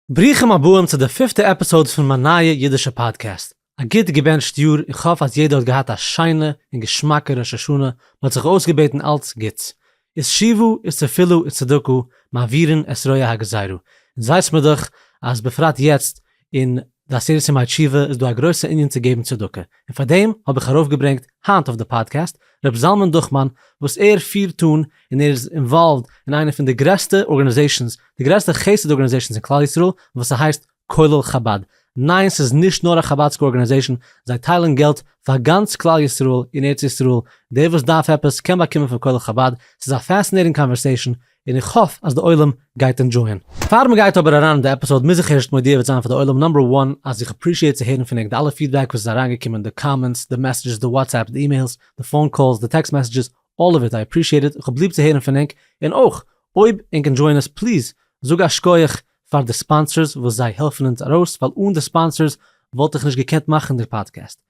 ברוכים הבאים צו די פיפטע עפיסאוד פון מיין נייע אידישע פאדקעסט. א גוט געבענטשט יאר, איך האף אז יעדער האט געהאט א שיינע און געשמאקע ראש השנה, מען האט זיך אויסגעבעטן אלץ גוטס. איז שיבו איז תפילו איז צדקו מעבירין את רוע הגזירה, אונז ווייס מיר דאך אז בפרט יעצט אין די עשרת ימי תשובה איז דא א גרויסע ענין צו געבן צדקה, און פאר דעם האב איך ארויף געברענגט היינט אויף די פאדקעסט ר' זלמן דוכמאן וואס ער פירט אן און ער איז אינוואלווד אין איינע פון די גרעסטע ארגאניזעישאנס די גרעסטע חסד ארגאניזעישאנס אין כלל ישראל וואס ס'הייסט כולל חבד, ניין ס'איז נישט נאר א חבד'סקע ארגאניזעישאן זיי טיילען געלט פאר גאנץ כלל ישראל אין ארץ ישראל, דער וואס דארף עפעס קען באקומען פון כולל חבד, ס'איז א פעסינעטינג קאנווערסעישאן און איך האף אז די עולם גייט ענדזשויען. פאר מ'גייט אבער אריין אין די עפיסאד מוז איך ערשט מודיע זיין פאר די עולם נאמבער וואן אז איך אפרישיעט צו הערן פון ענק די אלע פידבעק וואס איז אריינגעקומען, די קאמענטס, די מעסעדזשעס, די וואטסעפפס, די אימעילס, די פאון קאלס, די טעקסט מעסעדזשעס, אלל אוו איט, איי אפרישיעט איט, איך האב ליב צו הערן פון ענק, און אויך אויב ענק ענדזשויען עס פליז זאג א שקויעך פאר די ספאנסערס וואס זיי העלפן אונז ארויס ווייל אן די ספאנסערס וואלט איך נישט געקענט מאכן די פאדקעסט.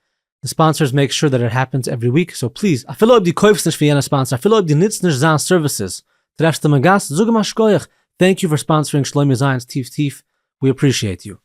די ספאנסערס מעיק שור דעט איט העפענס עווערי וויק, סאו פליז, אפילו אויב דו קויפסט נישט פון יענע ספאנסער, אפילו אויב דו נוצט נישט זיין סערוויסעס, טרעפסט אים אין גאס, זאג אים א שקויעך, טענק יו פאר ספאנסערינג שלומי זיינס טיף טיף, ווי אפרישיעט יו.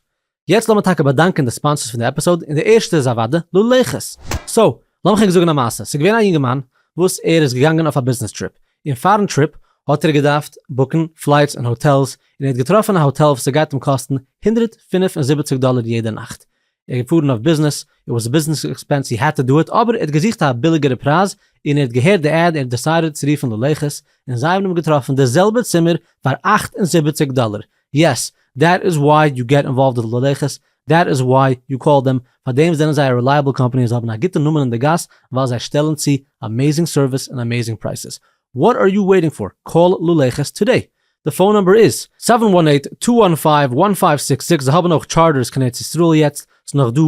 יעצט לאמיר טאקע באדאנקען די ספאנסערס פון די עפיסאוד, און די ערשטע איז אוואדע ללכת! סאו, לאמיך ענק זאגן א מעשה, ס'איז געווען א יונגערמאן וואס ער איז געגאנגען אויף א ביזנעס טריפ, און פארן טריפ האט ער געדארפט בוקן פלייטס און האטעלס, און ער האט געטראפן א האטעל וואס ס'גייט אים קאסטן הונדרעט פֿינף און זיבעציק דאלער יעדע נאכט, ער איז געפארן אויף ביזנעס, איט וואס א ביזנעס עקספענס הי העד טו דו איט, אבער ער האט געזוכט א ביליגערע פרייז, און ער האט געהערט די עד, ער האט דעסיידעט צו רופן ללכת, און זיי האבן אים געטראפן די זעלבע צימער פאר אַכט און זיבעציק דאלער, יעס, דעט איז וויי יו געט אינוואלווד וויט ללכת, דעט איז וויי יו קאל דעם, פארדעם זענען זיי א רילייעבל קאמפאני און זיי האבן א גוטע נאמען אין די גאס, ווייל זיי שטעלן צו אמעזינג סערוויס און אמעזינג פרייסעס, וואט אר יו וועיטינג פאר, קאל ללכת טודעי, די פאון נומבער איז, סעווען וואן עיט טו וואן פייוו וואן פייוו סיקס סיקס, זיי האבן אויך טשארדערס קיין ארץ ישראל יעצט, ס'איז נאך דא,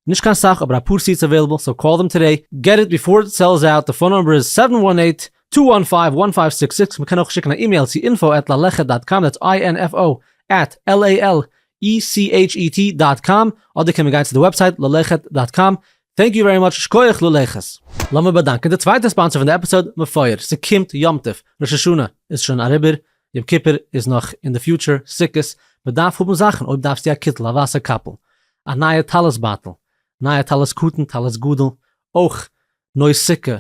נישט קיין סאך, אבער אפאר סיעטס עוועילעבל, סאו קאל דעם טודעי, געט איט ביפאר איט סעלס אוט, די פאון נומבער איז, סעווען וואן עיט טו וואן פייוו וואן פייוו סיקס סיקס, מ'קען אויך שיקן א אימעיל צו אינפאו עט לאלעכעט דאט קאם, דעטס איי ען עף או עט על עי על אי סי עיטש אי טי דאט קאם, אדער קען מען גיין צו די וועבסייט לאלעכעט דאט קאם, טענק יו ווערי מאטש שקויעך ללכת. לאמיר באדאנקען די צווייטע ספאנסער פון די עפיסאד מפואר, ס'קומט יום טוב, ראש השנה איז שוין אריבער, יום כיפור איז נאך אין די פיוטשער, סוכות, מ'דארף האבן זאכן, אויב דארפסטו א קיטל, א ווייסע קאפל, א נייע טלית בייטל, נייע טלית קטן, טלית גדול, אויך נוי סוכה,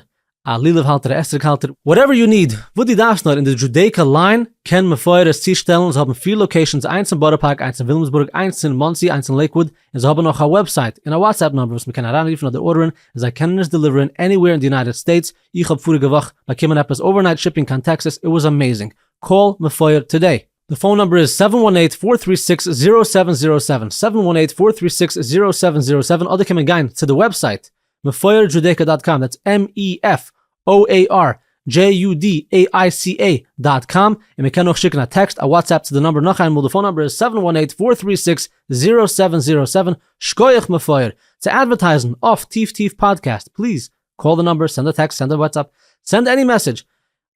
א לולב האלטער א אסטרוק האלטער וואטעווער יו ניד, וואס דו דארפסט נאר, און די דזשודעיקא ליין קען מפואר עס צושטעלן, זיי האבן פיר לאקעישאנס איינס אין בארא פארק איינס אין ווילימסבורג איינס אין מאנסי איינס אין לעיקוואד, און זיי האבן אויך א וועבסייט און א וואטסעפפ נומבער וואס מען קען אריינרופן אדער ארדערן, און זיי קענען עס דעליווערן עניוועיר אין די יונייטעד סטעיטס, איך האב פאריגע וואך באקומען עפעס אווערנייט שיפינג קיין טעקסעס, איט וואס עמעזינג, קאל מפואר טודעי. די פאון נומבער איז סעווען וואן עיט פאר טרי סיקס זירא סעווען זירא סעווען, סעווען וואן עיט פאר טרי סיקס זירא סעווען זירא סעווען, אדער קען מען גיין צו די וועבסייט מפואר דזשודעיקא דאט קאם דעטס עם אי עף או עי אר דזשעי יו די עי איי סי עי דאט קאם און מען קען אויך שיקן א טעקסט א וואטסעפפ צו די נומבער נאכאיינמאל די פאון נומבער איז סעווען וואן עיט פאר טרי סיקס זירא סעווען זירא סעווען שקויעך מפואר צו אדווערטייזן אויף טיף טיף פאדקעסט פליז קאל די נומבער סענד א טעקסט סענד א וואטסעפפ סענד עני מעסעדזש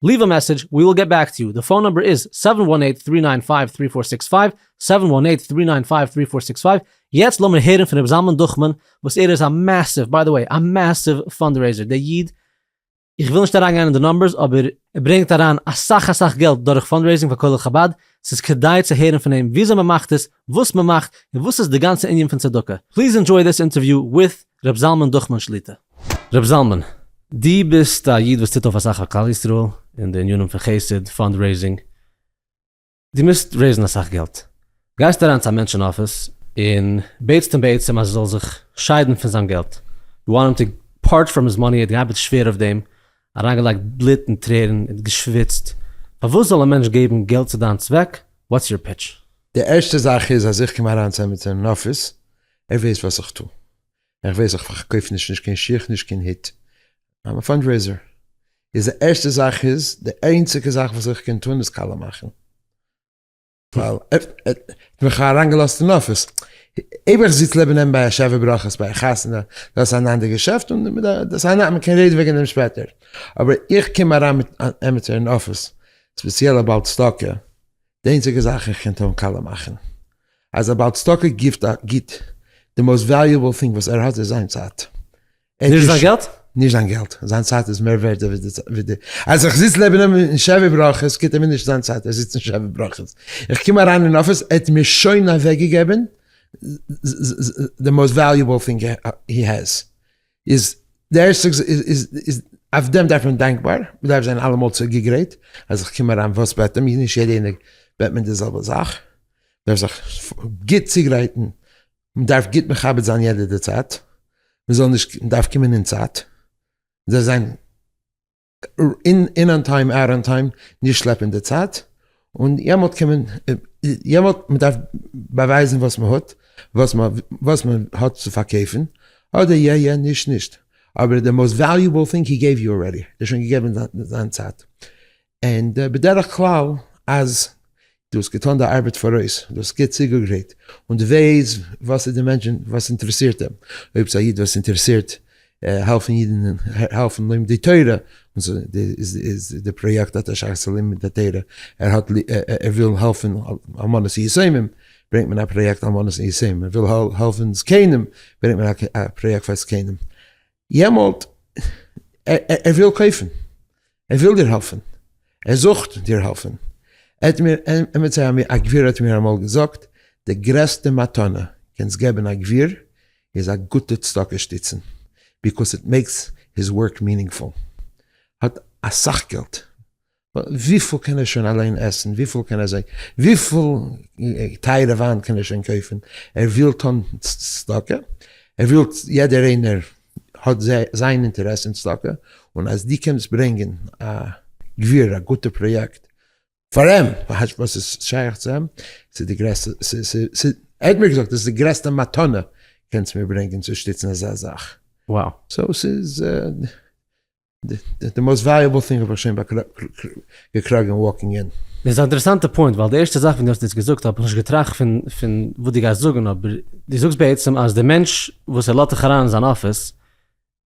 ליוו א מעסעדזש ווי וויל געט בעק טו יו, די פאון נומבער איז, סעווען וואן עיט טרי ניין פייוו טרי פאר סיקס פייוו, סעווען וואן עיט טרי ניין פייוו טרי פאר סיקס פייוו, יעצט לאמיר הערן פון ר' זלמן דוכמאן וואס ער איז א מעסיוו, ביי די וועי, א מעסיוו פאנדרעיזער דער איד, איך וויל נישט אריינגיין אין די נומבערס אבער ער ברענגט אריין אסאך אסאך געלט דורך פאנדרעיזינג פאר קהלת חבד, ס'איז כדאי צו הערן פון אים וויאזוי מ'מאכט עס, וואס מ'מאכט, און וואס איז די גאנצע ענין פון צדקה. פליז ענדזשוי דיס אינטערוויו וויט ר' זלמן דוכמאן שליטא. ר' זלמן, דו ביסט א איד וואס טוט אויף אסאך פאר כלל ישראל אין די ענינים פון חסד, פאנד רעיזינג, דו מוזט רעיזן אסאך געלט, גייסט אריין צו א מענטש אין אפיס און בעטסט אים בעצם אז ער זאל זיך שיידן פון זיין געלט, יו וואנט אים טו פארט פראם היז מאני, ער האט געארבעט שווער אויף דעם, אריינגעלייגט בלוט און טרערן, ער האט געשוויצט, פארוואס זאל א מענטש געבן געלט צו דיין צוועק, וואטס יור פיטש? די ערשטע זאך איז אז איך קום אריין צו עמיצן אין אפיס, ער ווייס וואס איך טו, ער ווייס איך פארקויף נישט נישט קיין שיך נישט קיין היט, איים א פאנדרעיזער, איז די ערשטע זאך איז, די איינציגע זאך וואס איך קען טון איז קאלע מאכן, ווייל ער האט מיך אריינגעלאזט אין אפיס, אויב איך זיץ לעבן אים ביי א שבע ברכות ביי א חתונה, דאס איז אן אנדער געשעפט און מ'קען רעדן וועגן דעם שפעטער, אבער איך קום אריין מיט עמיצער אין אפיס, ספעציעל א בעל צדקה, די איינציגע זאך איך קען טון קאלער מאכן אז א בעל צדקה גיבט א גיט די מאוסט וועליעבל טינג וואס ער האט איז זיין צייט. נישט זיין געלט? נישט זיין געלט, זיין צייט איז מער ווערט ווי די אז איך זיץ לעבן אים אין שבע ברכות גיט ער מיר נישט זיין צייט ער זיצט אין שבע ברכות איך קום אריין אין אפיס ער האט מיר שוין אוועק געגעבן די מאוסט וועליעבל טינג הי העז. איז דער ערשטער איז אויף דעם דארף מען דאנקבאר, מען דארף זיין אלעמאל צוגעגרייט אז איך קום אריין וואס בעט ער מיר, נישט יעדע איינער בעט מען די זעלבע זאך, דארף זיך גוט צוגרייטן, מען דארף גוט מכבד זיין יעדער די צייט, מען זאל נישט, מען דארף קומען אין צייט, מען דארף זיין. אין אן טיים אוט אן טיים נישט שלעפן די צייט און יעמאלט קומען יעמאלט מען דארף באווייזן וואס מען האט וואס מען וואס מען האט צו פארקויפן אדער יא יא נישט נישט אבער די מאסט וועליובעל טינג הי געיוו יו ארעדי ער האט שוין געגעבן זיין צייט און בדרך כלל אז. דו האסט געטאן די ארבעט פאראויס, דו האסט גוט צוגעגרייט, און דו ווייסט וואס איז די מענטשן וואס אינטערעסירט אים, אויב ס'איז א איד וואס אינטערעסירט העלפן אידן און העלפן לומדי תורה, איז די פראיעקט האט א שייכות צו לומדי תורה, ער האט ליב, ער וויל העלפן אלמנות ויתומים, ברענגט מען א פראיעקט אלמנות ויתומים, ער וויל העלפן זקנים, ברענגט מען א פראיעקט פאר זקנים. יעמאלט ער וויל קויפן ער וויל דיר העלפן ער זוכט דיר העלפן האט מיר אמת זיי האמיר א גביר האט מיר אמאל געזאגט די גרעסטע מתנה קענסט געבן א גביר איז א גוטע צדקה שטיצן ביקאוס איט מעיקס היז ווארק מינינגפול האט אסאך געלט וויפיל קען ער שוין אליין עסן, וויפיל קען ער זיי, וויפיל טייערע וויין קען ער שוין קויפן, ער וויל טון צדקה, ער וויל יעדער איינער האט זיין אינטערעס אין צדקה, און אז דו קענסט ברענגען א גביר א גוטע פראיעקט פאר אים, וואס איז שייך צו אים, ס'איז די גרעסטע, ס'איז, ער האט מיר געזאגט דאס איז די גרעסטע מתנה קענסט מיר ברענגען צו שטיצן אזא זאך, סאו ס'איז. די מאוסט וועליעבל טינג האב איך שוין געקראגען וואקינג אין. דאס איז א אינטערעסאנטע פוינט ווייל די ערשטע זאך ווען די האסט דאס געזאגט האב איך נישט געטראכט פון פון וואס די גייסט זאגען אבער די זאגסט בעצם אז די מענטש וואס ער לאט דיך אריין אין זיין אפיס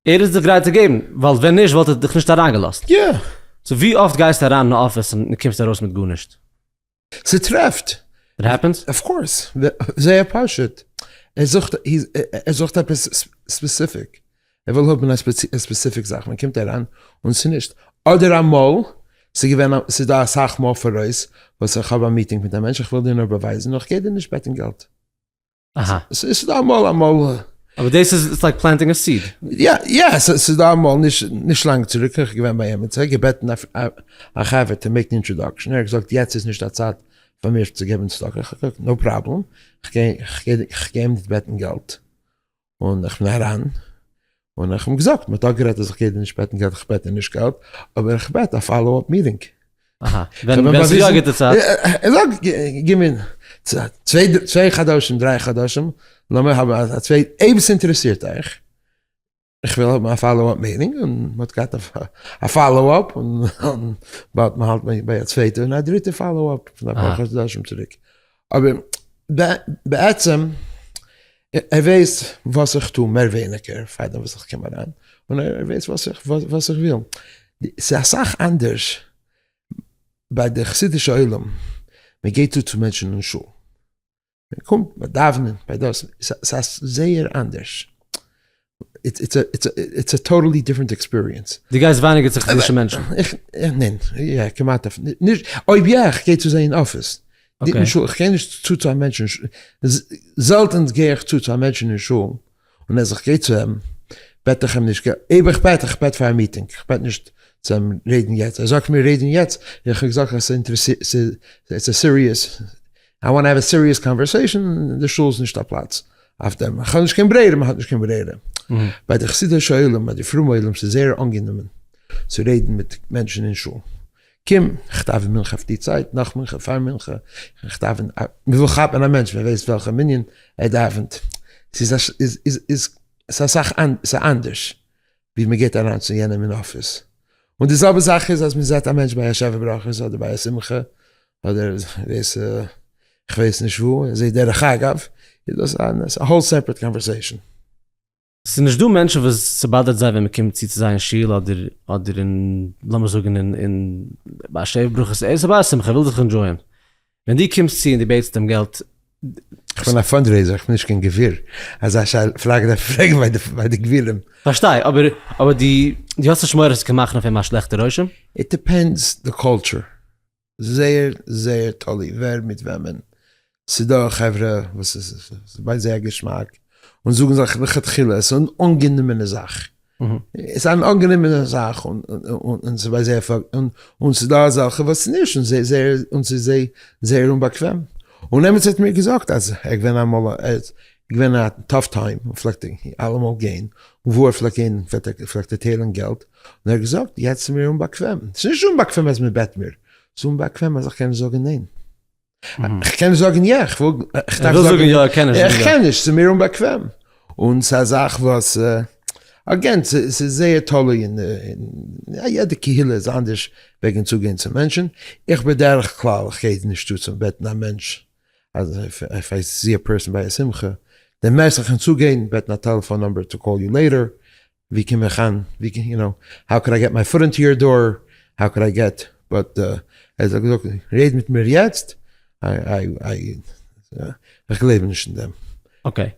ער איז דיך גרייט צו געבן ווייל ווען נישט וואלט ער דיך נישט אריין געלאזט. יא. סאו ווי אפט גייסטו אריין אין אפיס און קומסט ארויס מיט גארנישט? ס'טרעפט. איט העפענס? אף קאורס. זייער פשוט. ער זוכט ער זוכט עפעס ספעסיפיק. ער וויל האבן א ספעסיפיק זאך. מען קומט אריין און ס'איז נישט. אדער אמאל, ס'איז געווען א, ס'איז דא אסאך מאל פאראויס וואס איך האב א מיטינג מיט א מענטש, איך וויל דיר נאר באווייזן, און איך גיי דיר נישט בעטן געלט. אהא. ס'איז דא אמאל אמאל. אבער דאס איז איטס לייק פלענטינג א סיד. יא יא ס'איז דא אמאל נישט נישט לאנג צוריק איך געווען ביי עמיצער געבעטן א א חבר טו מעיק אן אינטראדאקשן ער האט געזאגט יעצט איז נישט א צייט פאר מיר צו געבן צדקה איך האב געזאגט נאו פראבלעם כ'גיי כ'גיי כ'גיי אים בעטן געלט און כ'בין אריין און איך האב אים געזאגט, מ'האט אפגערעדט אז איך גיי דיר נישט בעטן געלט, איך בעט דיר נישט געלט, אבער איך בעט א פאלאו אפ מיטינג. אהא, ווען ס'איז יא א גוטע צייט. ער זאגט, גיב מיר צוויי חדשים, דריי חדשים, לאמיר האבן א צוויי, אויב ס'אינטערעסירט אייך, איך וויל האבן א פאלאו אפ מיטינג, און מ'האט געהאט א פאלאו אפ, און באלד מ'האלט ביי א צווייטע און א דריטע פאלאו אפ, פון אפאר חדשים צוריק. אבער בעצם ער ווייסט וואס איך טוה מער ווייניגער פאר דעם וואס איך קום אריין, און ער ווייסט וואס איך וואס איך וויל. ס'איז אסאך אנדערש ביי די חסידישע עולם, מען גייט צו צו מענטשן אין שול, מען קומט, מען דאווענען, ביי דאס, ס'איז זייער אנדערש. איטס א טאטעלי דיפרענט עקספיריענס. די גייסט ווייניגער צו חסידישע מענטשן? ניין, יא כמעט אויף נישט, אויב יא איך גיי צו זיי אין אפיס, איך גיי נישט צו צו א מענטש אין שול, זעלטענס גיי איך צו צו א מענטש אין שול, און אז איך גיי צו אים בעט איך אים נישט, אויב איך בעט איך בעט פאר א מיטינג, איך בעט נישט צו אים רעדן יעצט, ער זאגט מיר רעדן יעצט, איך זאג איך אז ס'אינטערעסירט, ס'איז א סיריעס איי וואנט האוו א סיריעס קאנווערסעישאן, די שול איז נישט א פלאץ אויף דעם, איך האב נישט קיין ברירה, מען האט נישט קיין ברירה, ביי די חסידישע עולם, ביי די פרומע עולם ס'איז זייער אנגענומען צו רעדן מיט מענטשן אין שול, קום איך דאווען מנחה אויף די צייט, נאך מנחה, פאר מנחה, איך דאווען, מען וויל כאפן א מענטש, מען ווייסט וועלכע מנין ער דאווענט, ס'איז אסאך אנדערש, ווי מען געבט אריין צו יענעם אין אפיס, און די זעלבע זאך איז אז מען זעט א מענטש ביי א שבע ברכות אדער ביי א שמחה אדער ווער ס' כ'ווייס נישט וואו, און זעט דרך אגב, איז דאס א האול סעפרעט קאנווערסעישאן. ס'איז נישט דא מענטשן וואס ס'באדערט זיי ווען מען קומט צו צו זיי אין שול אדער אדער אין לאמיר זאגן אין ביי א שבע ברכות, ער איז ביי א שמחה ער וויל זיך ענדשויען, ווען דו קומסט צו און דו בעטסט דעם געלט. כ'בין א פאנדרעיזער, כ'בין נישט קיין גביר. אזא שאלה פלאגט דארף פרעגן ביי די גבירים. פארשטיי, אבער אבער די די האסט נישט מורא אז עס קען מאכן אויף אים א שלעכטע רושם? איט דיפענדס די קולטשור, זייער זייער תלוי ווער מיט וועמען, ס'איז דא חברה וואס ס'איז ביי זיי א געשמאק און זאגן זיך לכתחילה עס איז אן אנגענומענע זאך. עס איז אן אנגענומענע זאך און און ס'איז ביי זיי און און ס'איז דא אזעלכע וואס איז נישט און זיי זייער און ס'איז זיי זייער אומבאקוועם. אן עמיצער האט מיר געזאגט אז ער איז געווען אמאל ער איז געווען אין א טאף טיים און פלעגט אלעמאל גיין און וואו ער פלעגט גיין פלעגט ער טיילען געלט און ער האט געזאגט יעצט איז מיר אומבאקוועם. ס'איז נישט אומבאקוועם אז מ'בעט מיר, ס'איז אומבאקוועם אז איך קען נישט זאגען ניין. איך קען זאגן יא, איך וויל, איך דארף זאגן יא, איך קען נישט, איך קען נישט, ס'איז מיר אומבאקוועם, און ס'איז א זאך וואס, אגעין, ס'איז זייער תלוי אין, א יעדע קהילה איז אנדערש וועגן צוגיין צו מענטשן, איך בדרך כלל, איך גיי נישט צו צום בעטן א מענטש, אז איף איי סי א פערסאן ביי א שמחה, דער מערסט איך אים צוגיין, בעטן א טעלעפאן נומבער טו קאל יו לעיטער, ווי קום איך אן, ווי קען, יו נאו, האו קען איי געט מיי פוט אינטו יור דאור, האו קען איי געט, באט ער האט געזאגט, רעד מיט מיר יעצט, איך גלייב נישט אין דעם. אקעי.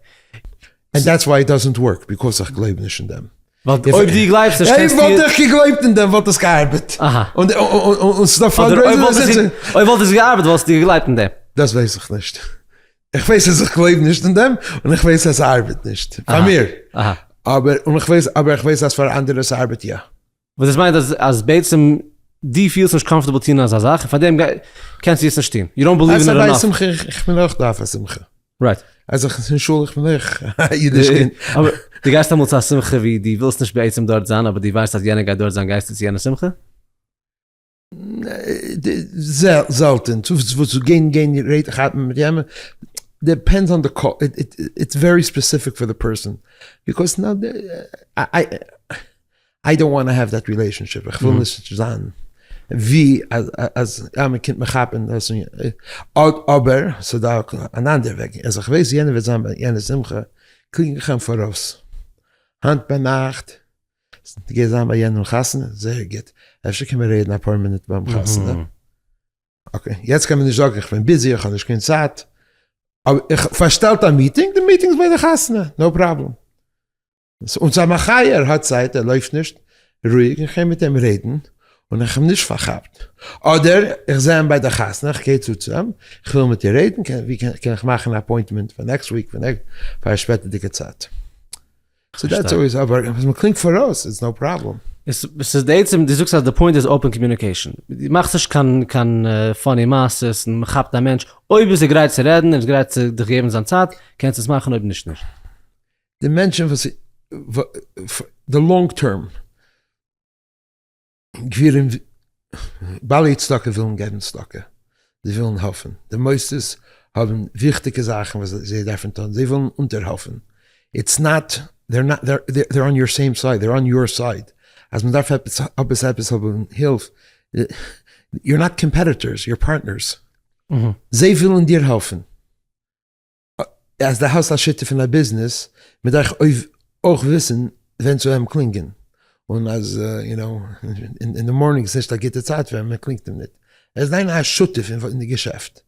ענד דעטס וויי איט דאזענט ווארק, ביקאוס איך גלייב נישט אין דעם. ווייל אויב דו גלייבסט נישט קענסטו. אויב וואלט איך געגלייבט אין דעם וואלט עס געארבעט. אהא. און ס'איז דא פאנדרעיזער. אדער אויב וואלט עס געארבעט וואלסטו געגלייבט אין דעם. דאס ווייס איך נישט. איך ווייס אז איך גלייב נישט אין דעם, און איך ווייס אז ס'ארבעט נישט. פאר מיר. אבער, און איך ווייס, אבער איך ווייס אז פאר אנדערע ס'ארבעט יא. וואס דאס מיינט אז, אז בעצם דו פילסט נישט קאמפארטעבל טון אזא זאך, און פאר דעם גיי, קענסטו עס נישט טון. יו דאנט בעליוו אין איט ענאף. שמחה, איך בין אויך דא אויף א שמחה. רייט. אז איך אין שול, איך בין אויך א אידיש קינד. אבער, דו גייסט אמאל צו א שמחה ווי דו ווילסט נישט בעצם דארט זיין, אבער דו ווייסט אז יענער גייט דארט זיין, גייסטו צו יענע שמחה? זעלטען צו גיין גיין רעדן כאפן מיט יענעם, דיפענדס אן די קא, איטס ווערי ספעסיפיק פאר די פערסאן, ביקאוז נאו דע, איי דאנט וואנט טו העוו דעט רילעישאנשיפ, איך וויל נישט זיין ווי אז א מען קומט מיך כאפן, אבער ס'דא אן אנדערע וועג, אז איך ווייס יענער וועט זיין ביי יענע שמחה, קלינג איך אים פאראויס היינט ביינאכט. זאלסט גיין זיין ביי יענעם חתונה? זעהר גוט, אפשר קען מען רעדן אפאר מינוט ביים חתונה? אקעי, יעצט קען מען נישט זאגן איך בין ביזי איך האב נישט קיין צייט, אבער איך פארשטעלט א מיטינג, די מיטינג איז ביי די חתונה, נאו פראבלעם. אונזער מחיה ער האט צייט, ער לויפט נישט, רואיג איך קען מיט אים רעדן, און איך בין נישט פארכאפט. אדער איך זעה אים ביי די חתונה, איך גיי צו צו אים, איך וויל מיט דיר רעדן, קען איך מאכן א אפוינטמענט פאר נעקסט וויק, פאר א שפעטערדיגע צייט? סאו דעטס אלוועיס אבער אז מ'קלינגט פאראויס איז נאו פראבלעם. עס איז די עצם די זאגסט אז די פוינט איז open communication די מאכסט נישט קיין קיין פאני מעשות און מ'כאפט א מענטש אויב איז ער גרייט צו רעדן און איז גרייט צו דיך געבן זיין צייט קענסט עס מאכן אויב נישט נישט. די מענטשן וואס די לאנג טערם. גבירים בעלי צדקה ווילן געבן צדקה, זיי ווילן העלפן, די מוסדות האבן וויכטיגע זאכן וואס זיי דארפן טון, זיי ווילן אונטערהעלפן, איטס נאט, דער נאט, דער אן יור סעים סייד, דער אן יור סייד, אז מען דארף עפעס עפעס עפעס האבן הילף, יור נאט קאמפעטיטארס, יור פארטנערס, זיי ווילן דיר העלפן. אז די האסט א שיטה פון א ביזנעס מען דארך אויך וויסען ווען צו אים קלינגען, און אז יו נאו אין די מארנינג איז נישט א גוטע צייט פאר אים מען קלינגט אים ניט, ער איז דיין א שותף אין די געשעפט,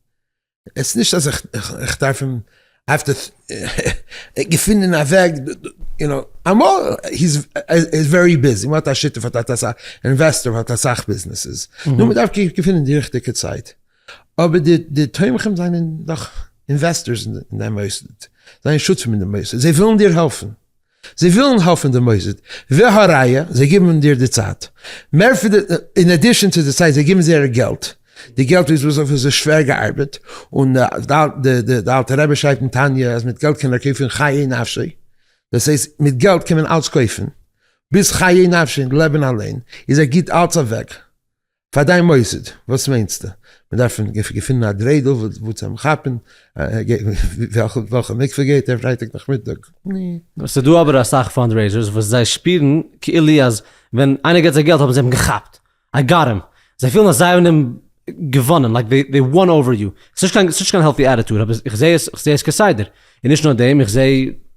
עס נישט אז איך דארף אים געפינען א וועג יו נאו אמאל הי איז ווערי ביזי מען האט א שותף און אינוועסטער וואס האט אסאך ביזנעסעס, נו מען דארף געפינען די ריכטיגע צייט אבער די תומכים זענען דאך אינוועסטארס אין דיין מוסד, זענען שותפים אין די מוסד, זיי ווילן דיר העלפן, זיי ווילן העלפן די מוסד, והא ראיה זיי גיבן דיר די צייט, מער פון די, אין אדישען צו די צייט, זיי גיבן זייער געלט, די געלט איז וואס איז שווער געארבעט, און די אלטע רבי שרייבט אין תניא אז מיט געלט קען ער קויפן חיי נפשי, דאס הייסט מיט געלט קען מען אלץ קויפן, ביז חיי נפשי, לעבן אליין, איז ער גיט אלץ אוועק, פאר דיין מוסד, וואס מיינסטע? מען דארף געפינען א דריידל וואו צו אים כאפען, וועלכע מקווה גייט ער פרייטאג נאכמיטאג? עס איז דא אבער אסאך פאנדרעיזערס וואס זיי שפירן כאילו אז ווען איינער געט זיי געלט האבן זיי אים געכאפט, איי גאט הים, זיי פילן אז זיי האבן אים געוואנען, לייק דעי וואן אווער יו, עס איז נישט קיין העלטי עטיטוד, אבער איך זע עס, איך זע עס כסדר, און נישט נאר דעם, איך זע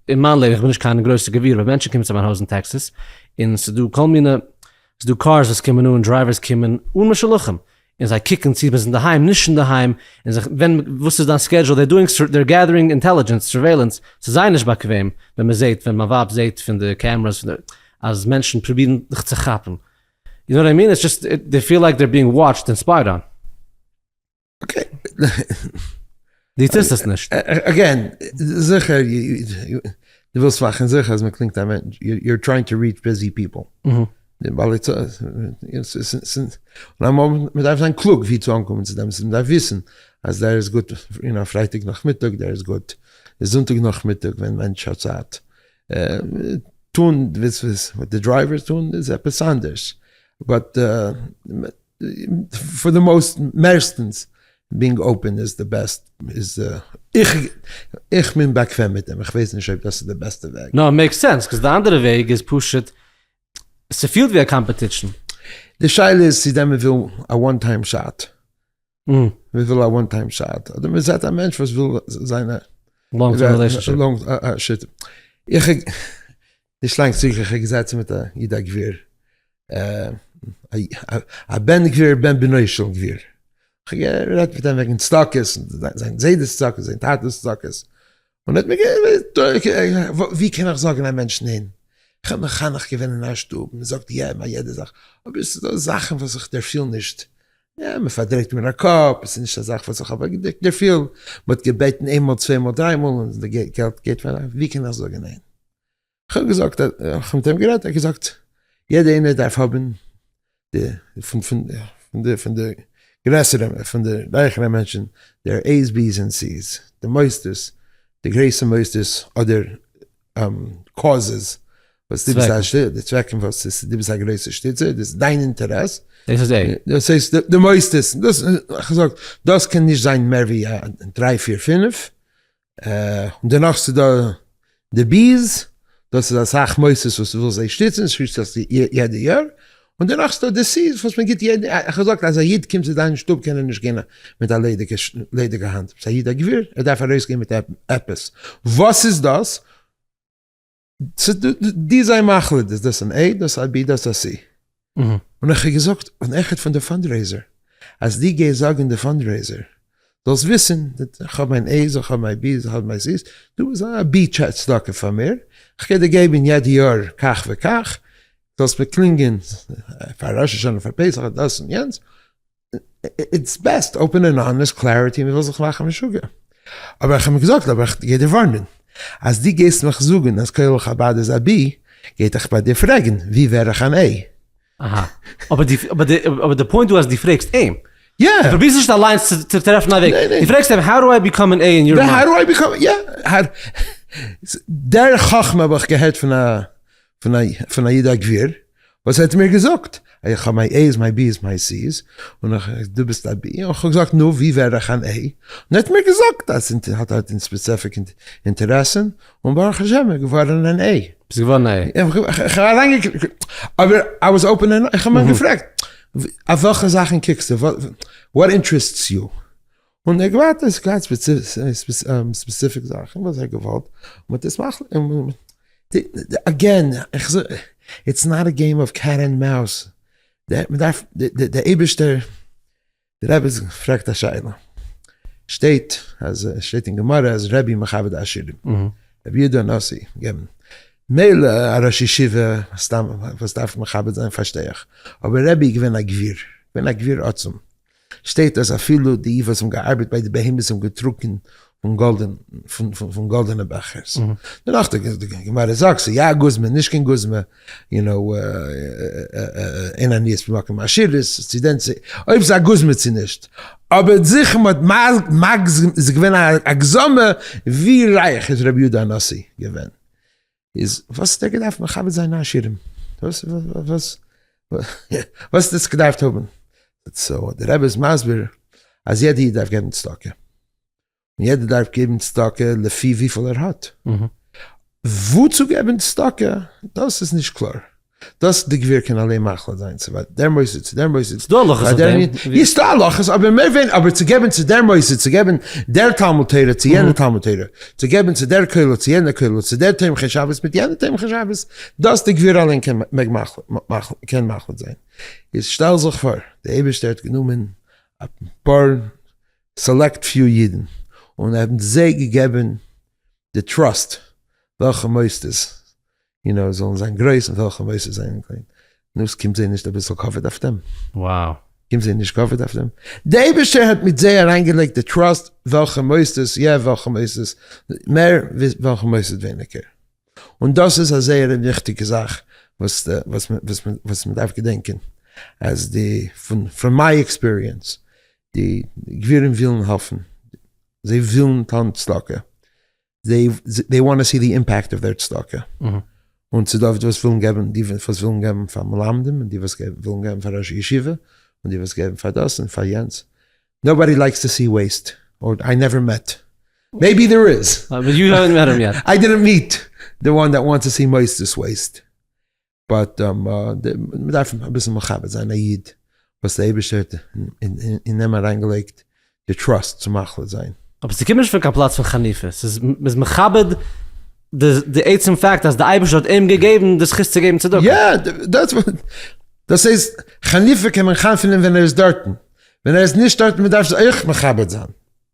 אין מיין לעבן, איך בין נישט קיין גרויסע גביר, אבער מענטשן קומען צו מיין הויז אין טעקסעס, און עס איז דא כל מיני ס'איז דא קארס וואס קומען אן, דרייווערס קומען אן משולחים, און זיי קוקן צי מ'איז אינדערהיים, נישט אינדערהיים, און זיך ווען, וואס איז דיין סקעדזשול, דער דואינג, דער געדערינג אינטעלידזשענס, סורוועילענס, ס'איז זיי נישט באקוועם ווען מ'זעהט, ווען מיין ווייב זעהט פון די קעמרעס פון די, אז מענטשן פרובירן דיך צו כאפן, יו נאו וואט איי מין, איטס דזשאסט, דעי פיל לייק דער בינג וואטשד און ספייד אן. אקעי. די טוסט עס נישט. אגעין, זיכער, די ווילסט מאכן זיכער אז מען קלינגט א מענטש, יו אר טרייענג טו ריעטש ביזי פיפעל. ווייל איטס, און אמאל מען דארף זיין קלוג ווי צו אנקומען צו דעם, מען דארף וויסן אז דער איז גוט אין א פרייטאג נאכמיטאג, דער איז גוט זונטאג נאכמיטאג ווען מענטש האט צייט. טון וואס די דרייווערס טון איז עפעס אנדערש, באט. פאר די מאוסט מערסטענס בינג אופען איז די בעסט איז איך בין באקוועם מיט דעם איך ווייס נישט אויב דאס איז די בעסטע וועג. נאר מעיק סענס קאזי די אנדערע וועג איז פשוט ס'פילט ווי א קאמפעטיטשן. די שאלה איז צו דען מען וויל א וואן טיים שאט מען וויל א וואן טיים שאט אדער מען זעט א מענטש וואס וויל זיין א לאנג טערם רילעישאנשיפ. נישט לאנג צוריק האב איך געזעצן מיט א איד א גביר, א בן גביר בן בנו של גביר, איך האב גערעדט מיט אים וועגן צדקות, זיין זיידע'ס צדקות, זיין טאטע'ס צדקות, און ער האט מיר גערעדט, ווי קען איך זאגן א מענטש ניין, איך האב מחנך געווען אין א שטוב, מען זאגט יען ביי יעדע זאך, אבער עס איז דא זאכן וואס איך דערפיל נישט, יען מען פארדרייט מיר א קאפ, עס איז נישט א זאך וואס איך האב דערפיל, מען האט געבעטן איינמאל צוויי מאל דריי מאל, און די געלט גייט פאר, ווי קען איך זאגן ניין. כ'האב געזאגט, כ'האב מיט אים גערעדט, ער האט געזאגט, יעדע איינער דארף האבן די, פון, פון, פון די, פון די גרעסערע, פון די רייכערע מענטשן, די עי'ס בי'ס און סי'ס, די מוסדות, די גרויסע מוסדות, אדער קאוזעס, וואס דו ביסט א שטיצער, די צוועקן וואס דו ביסט א גרויסע שטיצער, דאס איז דיין אינטערעס, דאס איז ער, דאס הייסט די מוסדות, דאס, כ'האב געזאגט, דאס קען נישט זיין מער ווי א דריי פיר פינף, און דערנאך ס'איז דא די ביז, דאס איז אסאך מוסדות וואס וויל זיי שטיצן, עס שטיצט זיך יעדע יאר, און דערנאך ס'איז דא די סיז וואס מען גיבט יעדע, איך האב געזאגט אז א איד קומט צו דיין שטוב קען ער נישט גיין מיט א ליידיגע האנט, ס'איז א איד א גביר ער דארף ארויסגיין מיט עפעס, וואס איז דאס? די זיי מחליט דאס דאס אן עי דאס א בי דאס א סי און איך האב געזאגט און איך האט פון די פאנדרעיזער אז די גיי זאגן די פאנדרעיזער זאלסט וויסן איך האב מיין עי איך האב מיין בי איך האב מיין סיס דא איז א בי טשעט סטאק פאר מיר איך גיי די געבן יעדע יאר כך וכך זאלסט מיר קלינגען פאר ראש השנה פאר פסח דאס און יענץ. איטס בעסט אופען און אנעסט קלעריטי מ'וויל זיך מאכן משוגע. אבער איך האב מיר געזאגט אבער איך גיי דיר ווארנען. אז דו גייסט מיך זאגן אז כולל חבד איז א ב, גייט איך ביי דיר פרעגן ווי ווער איך אן א. אהא. אבער די אבער די אבער די פוינט דא אז דו פרעגסט אים. יא. דו פרובירסט נישט אליינס צו צו טרעפן א וועג. ניין ניין. דו פרעגסט אים האו דו איי ביקאם אן א אין יור מיינד. יא. דרך חכמה האב איך געהערט פון א פון א איד א גביר וואס האט מיר געזאגט אז איך האב מיין עי'ס מיין בי'ס מיין סי'ס און דו ביסט א בי, און כ'האב געזאגט נו ווי ווער איך אן ע', און ער האט מיר געזאגט אז ער האט אין ספעציפיק אינטערעסען און ברוך השם איז געווארען אן ע'. ביסט געווארען א ע'. איך האב אריינגעקוקט אבער איי וואס אופען ענד איך האב מיך געפרעגט אויף וועלכע זאכען קוקסטו וואט אינטערעסטס יו און ער געווארט אז עס גייט ספעסיפיק זאכן וואס ער האט געוואלט, און מען האט עס מחליט און אגעין איך זאג איטס נאט א געים אוו קעט ענד מאוס, מען דארף די אייבערשטער, די רבי פרעגט א שאלה, שטייט אז שטייט אין גמרא אז רבי מכבד די עשירים, רבי יהודה הנשיא געבן, מילא א ראש ישיבה סתם וואס דארף מכבד זיין פארשטיי איך, אבער רבי איז געווען א גביר, געווען א גביר עצום, שטייט אז אפילו די וואס האבן געארבעט ביי די בהמות האבן געטרוקען פון גאלדען פון גאלדענע בעכערס. דערנאך די גמרא זאגט ס'איז יא א גוזמא נישט קיין גוזמא יו נאו אין עניות במקום עשירות צו דען צו אויב ס'איז א גוזמא צו נישט אבער זיכער מ'האט מגזם ס'איז געווען א גזמה ווי רייך איז רבי יהודה הנשיא געווען. איז וואס האט ער געדארפט מכבד זיין א עשירים? וואס וואס וואס האט עס געדארפט האבן? סאו דער רבי איז מסביר אז יעדע איד דארף געבן צדקה, און יעדער דארף געבן צדקה לפי וויפיל ער האט. וואו צו געבן צדקה דאס איז נישט קלאר. דאס די גביר קען אליין מחליט זיין צו ווייל דער מוסד צו דער מוסד ס'דא הלכות אויף דעם? יעס ס'דא הלכות אבער מער ווייניגער אבער צו געבען צו דער מוסד צו געבען דער תלמוד תורה צו יענער תלמוד תורה צו געבען צו דער כולל צו יענער כולל צו דער תומכי שבת מיט יענער תומכי שבת דאס די גביר אליין קען מעג מחליט קען מחליט זיין יעצט שטעל זיך פאר די אייבערשטער האט גענומען אפאר סעלעקט פיו אידען און ער האט זיי געגעבען די טראסט וועלכע מוסדות יו נאו, זאלן זיין גרויס און וועלכע מוסד זיי זענען געווען. נו, עס קומט זיי נישט אביסל כבוד אויף דעם? וואו. קומט זיי נישט כבוד אויף דעם? די אייבערשטער האט מיט זיי אריינגעלייגט די טראסט וועלכע מוסדות יא וועלכע מוסדות מער וועלכע מוסד ווייניגער. און דאס איז א זייער וויכטיגע זאך וואס וואס מען דארף געדענקען אז די פון פראם מיי עקספיריענס די גבירים ווילן העלפן זיי ווילן טון צדקה זיי זיי וואנט טו סי די אימפעקט אוו דער צדקה, און ס'איז דא אויף די וואס ווילן געבן די וואס ווילן געבן פאר מלמדים און די וואס ווילן געבן פאר ראשי ישיבה און די וואס געבן פאר דאס און פאר יענץ, נאובאדי לייקס טו סי וועיסט, אר איי נעווער מעט, מעי בי דער איז, איי דידענט מיט די וואן דעט וואנטס טו סי מאוסט איז וועיסט, באט מען דארף אביסל מכבד זיין א איד וואס די אייבערשטער האט אין אים אריין געלייגט די טראסט צו מחליט זיין. אבער ס'קומט נישט פון קיין פלאץ פון חנופה, ס'איז מ'איז מכבד די עצם פאקט אז די אייבערשטער האט אים געגעבן די זכות צו געבן צדקה. יא, דאס איז חנופה קען מען חנפ'נען ווען ער איז דארטן, ווען ער איז נישט דארטן מען דארף אויך מכבד זיין.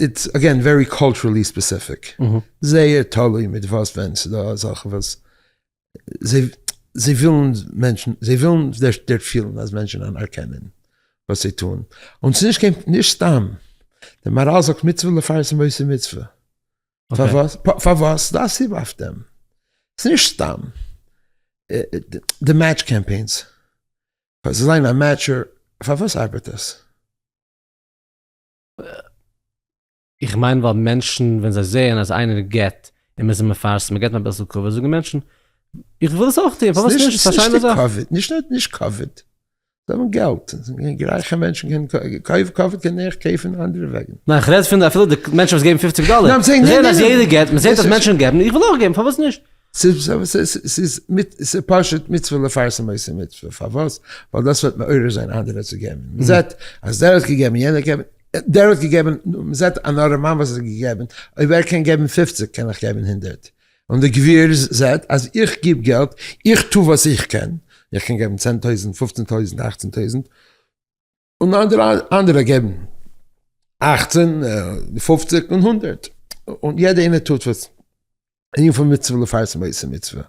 איטס אגעין ווערי קאלטשורעלי ספעסיפיק, זייער תלוי מיט וואס ווען, ס'דא אזעלכע וואס זיי ווילן מענטשן, זיי ווילן ערפילן אז מענטשן אנערקענען וואס זיי טוהן, און ס'איז נישט קיין, נישט סתם, די מאראל זאגט מצוה לפרסם עושה מצוה, פארוואס? פארוואס? ס'איז דא א סיבה אויף דעם, ס'איז נישט סתם, די מעטש קאמפיינס, פאר צו זיין א מעטשור, פארוואס ארבעט עס? איך מיין ווייל מענטשן ווען זיי זעען אז איינער גיבט און מ'איז אים מפרסם, מ'גיבט אים אביסל כבוד, זאגן מענטשן, איך וויל עס אויך טון, פארוואס נישט? ס'איז נישט די כבוד, נישט נאר נישט כבוד, זיי האבן געלט, רייכע מענטשן קענען קויפן, כבוד קען איך קויפן אין אנדערע וועגן. ניין, איך רעד פון אפילו די מענטשן וואס געבן פופציג דאלער, זעען אז יעדער גיבט, מ'זעט אז מענטשן גיבן, איך וויל אויך גיבן, פארוואס נישט? ס'איז פשוט מצוה לפרסם עושה מצוה, פארוואס? ווייל דאס וועט מעורר זיין אנדערע צו געבן, מען זעט אז דער האט געגעבן יענער האט געגעבן, דער האט געגעבן, מען זעט אן ארעם מאן וואס האט געגעבן, אויב ער קען געבן פופציג קען איך געבן הונדערט, און די גביר זעט אז איך גיב געלט, איך טו וואס איך קען, איך קען געבן צען טויזנט, פופצן טויזנט, אכצן טויזנט, און אנדערע געבן אכצען פופציג און הונדערט און יעדע איינער טוט וואס אין פון מצוה לפרסם איז א מצוה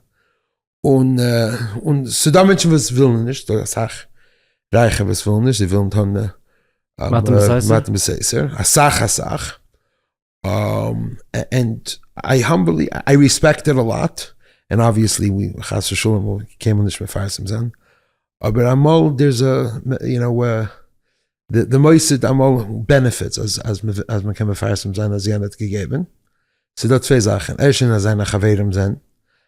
און און ס'דא מענטשן וואס ווילן נישט ס'דא אסאך רייכע וואס ווילן נישט זיי ווילן טון מתן בסתר אסאך אסאך. ענד איי האמבעלי איי ריספעקט איט אלאט, ענד אבוויעסלי ווי חס ושלום קען מען נישט מפרסם זיין, אבער אמאל דער איז א יו נאו די מוסד אמאל בענעפיטס אז אז מען קען מפרסם זיין אז יענער האט געגעבען, ס'דא צוויי זאכען, ערשטענס אז זיינע חברים זענען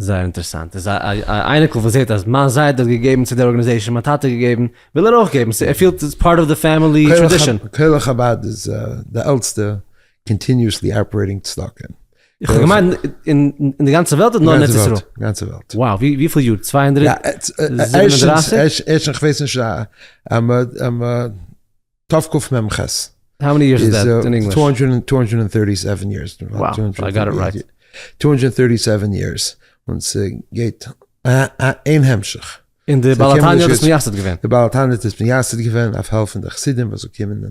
זייער אינטערעסאנט, איז א אייניקל וואס זעט אז מיין זיידע האט געגעבן צו די ארגענעזעישאן, מיין טאטע האט געגעבן, וויל ער אויך געבן, ער פילט ס'איז פארט אוו די פעמילי טראדישאן. כולל חבד איז די עלטסטע קאנטיניאסלי אפערעיטינג צדקה. איך האב געמיינט אין די גאנצע וועלט אדער נאר אין ארץ ישראל? גאנצע וועלט. וואו, וויפיל יאר? צוויי הונדרעט זיבן און דרייסיג? ערשטנס, איך ווייס נישט, תקמ ח איז טו הונדרעט טערטי סעווען יערס און ס'געט אין המשך. און די בעל התניא האט עס מייסד געווען. די בעל התניא האט עס מייסד געווען אויף העלפן די חסידים וואס זיי קומען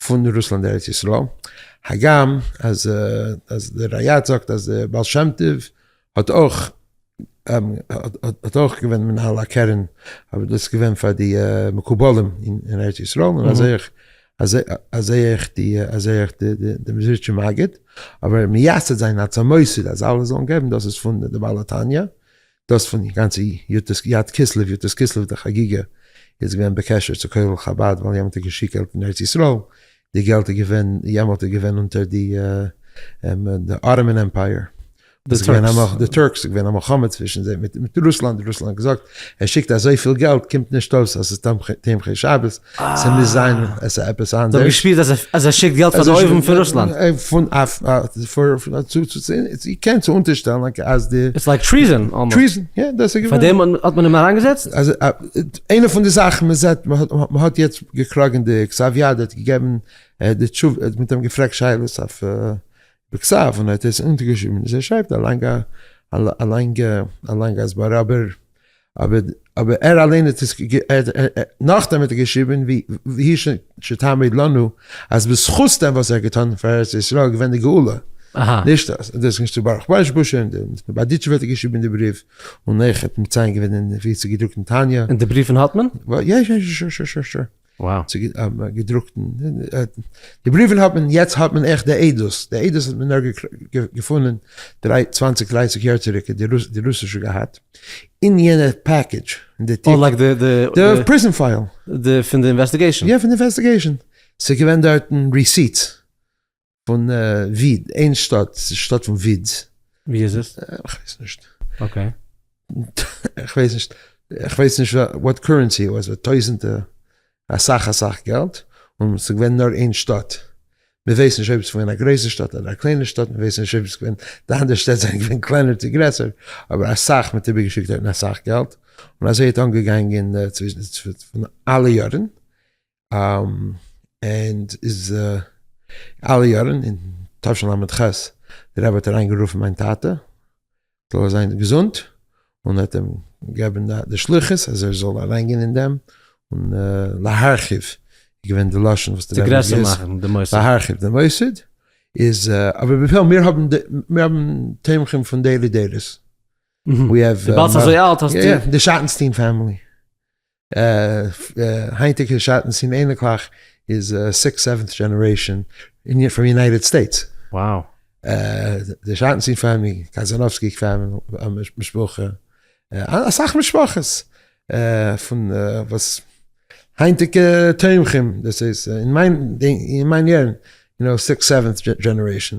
פון רוסלאנד ארץ ישראל, הגם אז דער ראיאט זאגט אז דער בעל שם טוב האט אויך האט אויך געווען מנהל הקרן, אבער דאס איז געווען פאר די מקובלים אין ארץ ישראל, און אזוי אויך אזוי אזוי אויך די אזוי אויך די די מזריטשע מגיד, אבער מייסד זיין אלס א מוסד אז אלע זאלן געבן דאס איז פון די בעל התניא, דאס פון די גאנצע יו ט יו ט כסלו יו ט כסלו די חגיגה איז געווען בקשר צו כולל חבד ווייל יענקל געשיקעלט אין ארץ ישראל די געלט איז געווען, יעמאלט איז געווען אונטער די ארעמען עמפייער. די טורקס. די טורקס, ס'איז געווען א מלחמה צווישן זיי מיט רוסלאנד, רוסלאנד האט געזאגט, ער שיקט אזויפיל געלט, קומט נישט אויס אז ס'איז תומכי שבת, ס'מוז זיין עפעס אנדערש. זיי האבן געשפירט אז ער שיקט געלט פאר די אויבן פון רוסלאנד. פון איר קענט צו אונטערשטעלן אז די. איטס לייק טריזען אלמאסט. טריזען, יא, דאס איז געווען. פארדעם האט מען אים אריינגעזעצט? איינע פון די זאכן מ'זעט, מ'האט יעצט. געקלאגענדיג, סאוויאד האט געגעבן די תשובה, האט מיט אים געפרעגט שאלות אויף בכתב און ער האט עס אונטערגעשריבן און ער שרייבט א לאנגע א לאנגע א לאנגע הסבר אבער אבער אבער ער אליין האט עס נאכדעם האט ער געשריבן והי' שתעמיד לנו אז בזכות דעם וואס ער האט געטון פאר ארץ ישראל געווען די גאולה, נישט אז דאס איז נישט צו ברוך בושם, און בארדיטשוב האט געשריבן אין די בריוו און איך האט מציין געווען אין די פירציג געדרוקטן תניא. און די בריוון האט מען? יא יא שור שור שור שור. וואו? צו געדרוקטן. די בריוון האט מען, יעצט האט מען עכט די עדות, די עדות האט מען נאר געפונען צוואנציג דרייסיג יאר צוריק די רוסישע געהאט אין יענע פעקעדזש אין די תיק. אה לייק די די די פריזאן פייל. די פון די אינוועסטיגעישאן. יא פון די אינוועסטיגעישאן. ס'איז געווען דארטן ריסיטס. פון וויד, איין שטאט, ס'איז שטאט פון וויד. ווי איז עס? כ'ווייס נישט. אקעי. כ'ווייס נישט, כ'ווייס נישט וואט קורענסי עס איז, טויזענטע, אסאך אסאך געלט, און ס'איז געווען נאר איין שטאט. מ'ווייס נישט אויב עס איז געווען א גרויסע שטאט אדער א קליינע שטאט, מ'ווייס נישט אויב עס איז געווען, די אנדערע שטעט זענען געווען קלענער צו גרעסער, אבער אסאך, מ'האט איבערגעשיקט דארטן אסאך געלט, און אזוי האט אנגעגאנגען פון אלע יארן, און איז אלע יארן אין תשל ל ח די רבי האט אריין גערופן מיין טאטע זאל ער זיין געזונט און האט אים געבען די שלוחית אז ער זאל אריין גיין אין דעם און להרחיב געווען די לשון וואס די גרעסער מאכן די מוסד להרחיב די מוסד איז אבער בפועל מיר האבן מיר האבן תומכים פון דעילי דעיליס. אהה די ביסט אזוי אלט אז די. יא די שאטענסטיען פעמילי. היינטיגע שעטנז אין אייניקלעך איז סיקס סעווענט דזשענערעישאן פראם יונייטעד סטעיטס. וואו. די שעטנז אין פעמילי, קאזאנאווסקי משפחה, אסאך משפחות פון וואס היינטיגע תומכים, דאס איז אין מיין יארן, סיקס סעווענט דזשענערעישאן.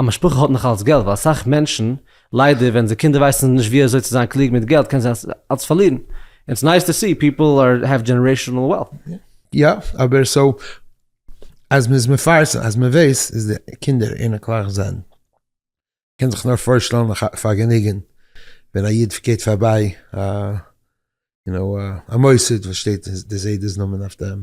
א משפחה האט נאכאלץ געלט ווייל אסאך מענטשן ליידער ווען די קינדער ווייסן נישט ווי אזוי צו זיין קלוג מיט געלט קענען זיי אלץ פארלירן און איטס נייס טו סי פיפל אר העוו דזשענערעישענעל וועלט. יא אבער סאו אז מ'איז מפרסם אז מ'ווייסט איז די קינדער אין א קלאך זען קען זיך נאר פארשטעלן א פארגעניגען ווען א איד גייט פארביי א מוסד וואס שטייט די זיידע'ס נאמען אויף דעם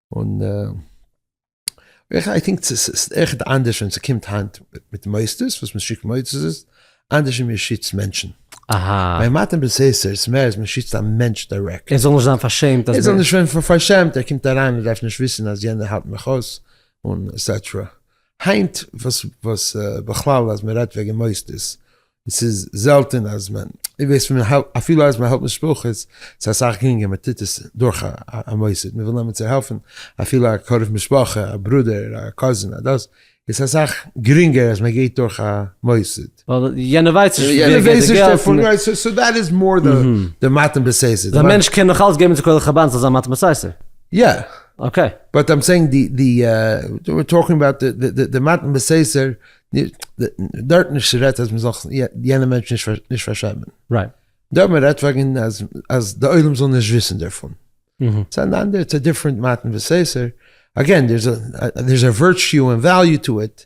און איך איי טינק ס'איז עכט אנדערש ווען ס'קומט היינט מיט מוסדות וואס מ'שיקט מוסדות, אנדערש ווי מ'שיצט מענטשן. אהא. ביי מתן בסתר איז מער אז מ'שיצט א מענטש דירעקט. ער זאל נישט זיין פארשעמט אז. ער זאל נישט ווערן פארשעמט, ער קומט אריין ער דארף נישט וויסן אז יענער האלט מיך אויס און עסעטערע. היינט וואס וואס בכלל אז מ'רעדט וועגן מוסדות, עס איז זעלטען אז מען איך ווייס פון אפילו אז מען העלפט משפחות איז עס אסאך גרינגער מען טוט עס דורך א מוסד מען וויל נעמען צו העלפען אפילו א קרוב משפחה א ברודער א קאזין א דאס איז אסאך גרינגער אז מען גייט דורך א מוסד. ווייל יענער ווייסט נישט ווי ער געט די געלט. יענער ווייסט נישט דערפון סאו דעט איז מאר די מתן בסתר. די מענטש קען נאך אלץ געבן צו כולל חבנס אזא מתן בסתר. יא. אקעי. באט איים סעינג די די ווער טאלקינג אבאוט די מתן בסתר דארט נישט צו רעדט אז מען זאל יענע מענטש נישט פארשעמען רייט דארט מען רעדט וועגן אז אז די עולם זאל נישט וויסן דערפון ס'איז אן אנדערע איטס א דיפרענט מתן וססר אגעין דערס א ווירטשו און וועליו טו איט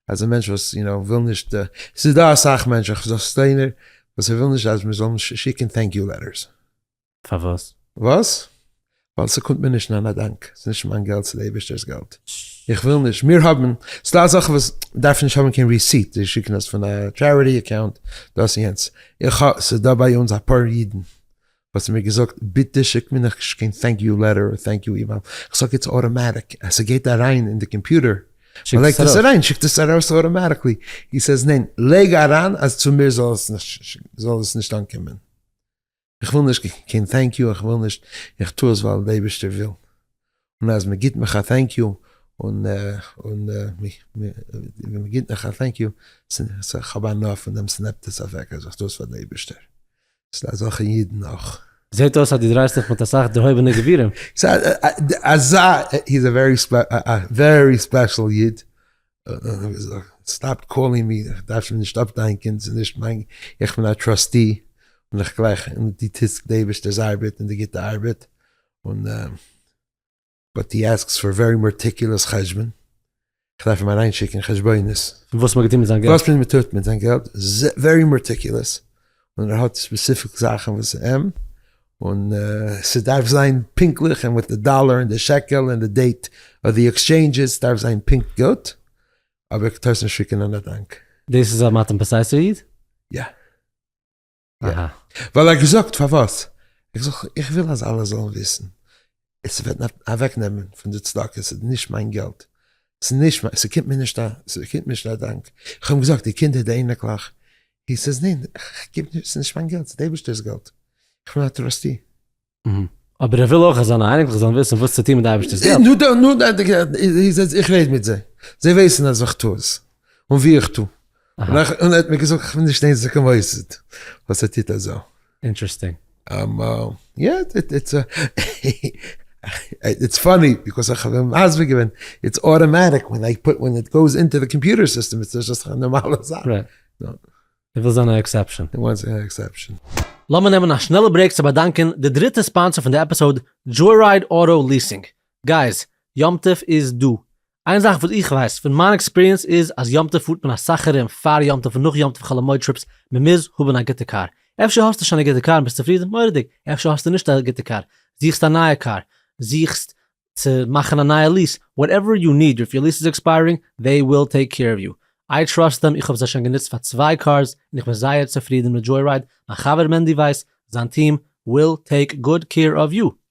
אז א מענטש וואס יו נאו וויל נישט ס'איז דא אסאך מענטשן כ'זאג סטענער וואס זיי ווילן נישט אז מען זאל נישט שיקן טענק יו לעטערס. פארוואס? וואס? ווייל ס'קומט מיר נישט ניין א דאנק, ס'איז נישט מיין געלט ס'איז די אייבישטער'ס געלט, איך וויל נישט, מיר האבן, ס'דא אזעלכע וואס דארפן נישט האבן קיין ריסיט, זיי שיקן עס פון א טשעריטי אקאונט, דאס און יענץ, איך האב, ס'איז דא ביי אונז אפאר אידן וואס האבן מיר געזאגט ביטע שיקט מיר נישט קיין טענק יו לעטער אדער טענק יו אימעיל, איך זאג איטס אוטאמאטיק, אז ס'גייט אריין אין די קאמפיוטער, מ'לייגט עס אריין שיקט עס ארויס אוטאמאטיקלי, הי סעיז ניין, לייג אריין אז צו מיר זאל עס נישט אנקומען. איך וויל נישט קיין טענק יו, איך וויל נישט, איך טו עס ווייל די אייבערשטער וויל, און אז מען גיבט מיך א טענק יו, און מען גיבט מיך א טענק יו, איך האב הנאה פון דעם, ס'נעמט עס אוועק אז איך טו עס פאר די אייבערשטער, ס'דא אזעלכע אידן אויך. זעט אויס אז דו דרייסט דיך מיט אסאך דערהויבענע גבירים. אזא, הי איז א ווערי ספעשל איד, סטאפ קאלינג מי, איך דארף שוין נישט אפדענקען, ס'איז נישט מיין, איך בין א טראסטי, און איך גלייך און די טוסט די אייבערשטער'ס ארבעט און די גוטע ארבעט, און באט די עסקס פאר ווערי מערטיקולעס חשבון, איך דארף אים אריינשיקן חשבונות. פון וואס מ'האט געטון מיט זיין געלט. וואס מ'טוט מיט זיין געלט, ווערי מערטיקולעס, און ער האט ספעסיפיק זאכן וואס איז אים, און ס'דארף זיין פונקטליך און מיט די דאלער און די שקל און די דעיט אויף די עקסטשעינדזשעס דארף זיין פונקט גוט, אבער כ'טאר עס נישט שיקן אן א דאנק. דאס איז א מתן פסייסער איד? יא. אהא. ווייל ער האט געזאגט פארוואס, איך זאג איך וויל אז אלע זאלן וויסן, עס וועט נישט אוועק נעמען פון די צדקה, עס איז נישט מיין געלט, עס איז נישט מיין, עס קומט מיר נישט א, עס קומט מיר נישט א דאנק, איך האב געזאגט די קינדער די אייניקלעך, עס איז נישט, איך גיב נישט, עס איז נישט מיין געלט, עס איז די אייבערשטער'ס געלט, איך בין א טראסטי. אבער ער וויל אויך אז זיינע אייניקלעך זאלן וויסן וואס צו טון מיט די אייבערשטער'ס געלט. נו דאן, נו דאן, איך רעד מיט זיי, זיי ווייסן אז איך טו עס, און ווי איך טו, און ער האט מיר געזאגט איך בין נישט איינס די כמוסד וואס ער טוט אזוי. אינטרעסטינג. יא, איטס איטס פאני ביקאוז איך האב אים מסביר געווען, איטס אוטאמאטיק ווען איי פוט ווען איט גאוס אינטו די קאמפיוטער סיסטעם איז דאס דאס א נארמאלע זאך. רייט. ער וויל זיין א עקסעפשאן. ער וואנטס אן עקסעפשאן. לאמיר נעמען א שנעלע ברעיק צו באדאנקען די דריטע ספאנסער פון די עפיסאוד, דזשוי-רייד אוטא ליעסינג. גייז, יום טוב איז דא. איין זאך וואס איך ווייס פון מיין עקספיריענס איז אז יום טוב פארט מען אסאך ארום פאר יום טוב און נאך יום טוב חול המועד טריפס, מען מוז האבן א גוטע קאר, אפשר האסטו שוין א גוטע קאר און ביסט צופרידן, מורא'דיג, אפשר האסטו נישט א גוטע קאר, זוכסט א נייע קאר, זוכסט צו מאכן א נייע ליעס, וואטעווער יו ניד, איף יור ליעס איז עקספיירינג, זיי וויל טעיק קעיר אוו יו, איי טראסט דעם, איך האב זיי שוין גענוצט פאר צוויי קארס און איך בין זייער צופרידן מיט דזשוי רייד, מיין חבר מענדי ווייס, זיין טיעם וויל טעיק גוד קעיר אוו יו.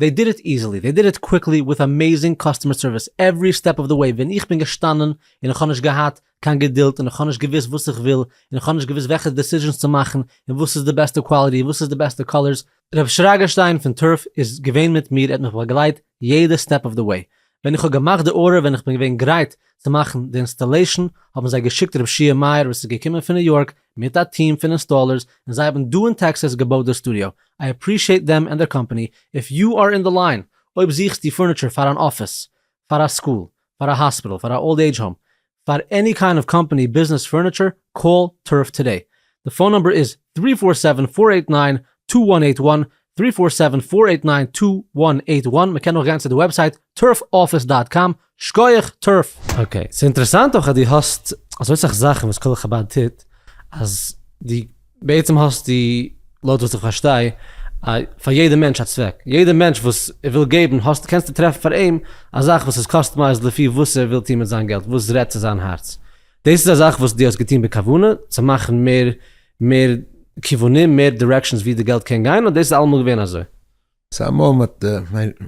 זיי דיד איט איזילי, זיי דיד איט קוויקלי וויט אמעיזינג קאסטומער סערוויס עווערי סטעפ אוו די וועי, ווען איך בין געשטאנען און איך האב נישט געהאט קיין געדולד און איך האב נישט געוויסט וואס איך וויל און איך האב נישט געוויסט וועלכע דעסיזשענס צו מאכן און וואס איז די בעסטע קוואליטי און וואס איז די בעסטע קאלערס, רב שרגא שטיין פון טורף איז געווען מיט מיר ער האט מיך באגלייט יעדע סטעפ אוו די וועי, ווען איך האב געמאכט די ארדער ווען איך בין געווען גרייט צו מאכן די אינסטאלעישן האבן זיי געשיקט ר' שיע מאיר וואס איז געקומען פון ניו יארק מיט א טיעם פון אינסטאלערס און זיי האבן דא אין טעקסעס געבויט די סטודיאו איי עפרישיעט דעם ענד דער קאמפאני איף יו אר אין די ליין אויב זוכסטו פורניטשער פאר אן אפיס פאר א סקול פאר א האספיטעל פאר א אולד עידזש האום פאר עני קיינד אוו קאמפאני ביזנעס פורניטשער קאל טרף טודעי די פאון נומבער איז תרי פאר סעווען פאר עיט ניין טו וואן עיט וואן תרי פאר סעווען פאר עיט ניין טו וואן עיט וואן מען קען אויך גיין צו די וועבסייט טרף אפיס דאט קאם שקויעך טרף. אקעי ס'אינטערעסאנט אויך אז די האסט אזוי סאך זאכן וואס קול חבד טוט אז די. בעצם האסטו, לויט וואס איך פארשטיי, א פאר יעדע מענטש א צוועק, יעדע מענטש וואס ער וויל געבן האסט קענסטו טרעפן פאר אים א זאך וואס איז קאסטומייזד לפי וואס ער וויל טון מיט זיין געלט, וואס רעדט צו זיין הארץ. דאס איז א זאך וואס דו האסט געטון בכוונה צו מאכן מער מער כיוונים, מער דירעקשאנס ווי די געלט קען גיין, אדער דאס איז אלעמאל געווען אזוי? סא אמאל האט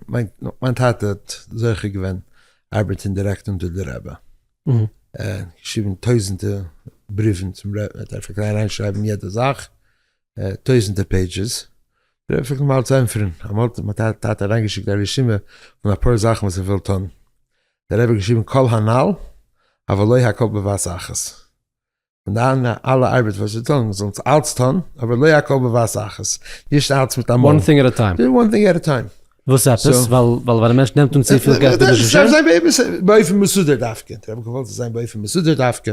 מיין טאטע האט זוכה געווען ארבעטען דירעקט אונטער די רבי, געשריבען טויזענטע בריווען צום רבי, מען דארף אריין אריינשרייבען יעדע זאך, טויזענטע פעידזשעס, דער רבי פלעגט אים אלץ ענטפערען, אמאל האט מיין טאטע אריינגעשיקט א רשימה פון אפאר זאכען וואס ער וויל טון, דער רבי האט געשריבען כל הנל אבל לא הכל בבת אחת, און דיינע אלע ארבעט וואס זיי טון זאלן זיי אלץ טון, אבער לא הכל בבת אחת, נישט אלץ מיט א מאל. וואן טינג עט א טיים. וואן טינג עט א טיים. וואס עפעס? ווייל ווייל ווען א מענטש נעמט אן צופיל גייט ער נישט זיין. באופן מסודר דווקא, איך האב געוואלט זיי זען באופן מסודר דווקא.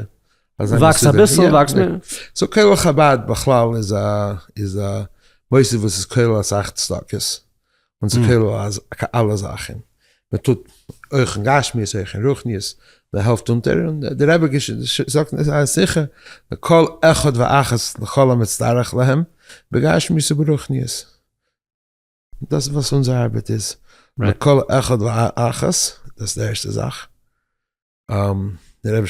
וואקס אביסל וואקס מער. סאו כולל חבד בכלל איז א מוסד וואס איז כולל אסאך צדקות, און ס'איז כולל אלע זאכען, מען טוט אויך אין גשמיות אויך אין רוחניות, מען העלפט אונטער, און דער רבי זאגט אין זיין שיחה, לכל אחד ואחת לכל המצטרך להם, בגשמיות וברוחניות. דאס איז וואס אונזער ארבעט איז, לכל אחד ואחת, דאס איז די ערשטע זאך, דער רבי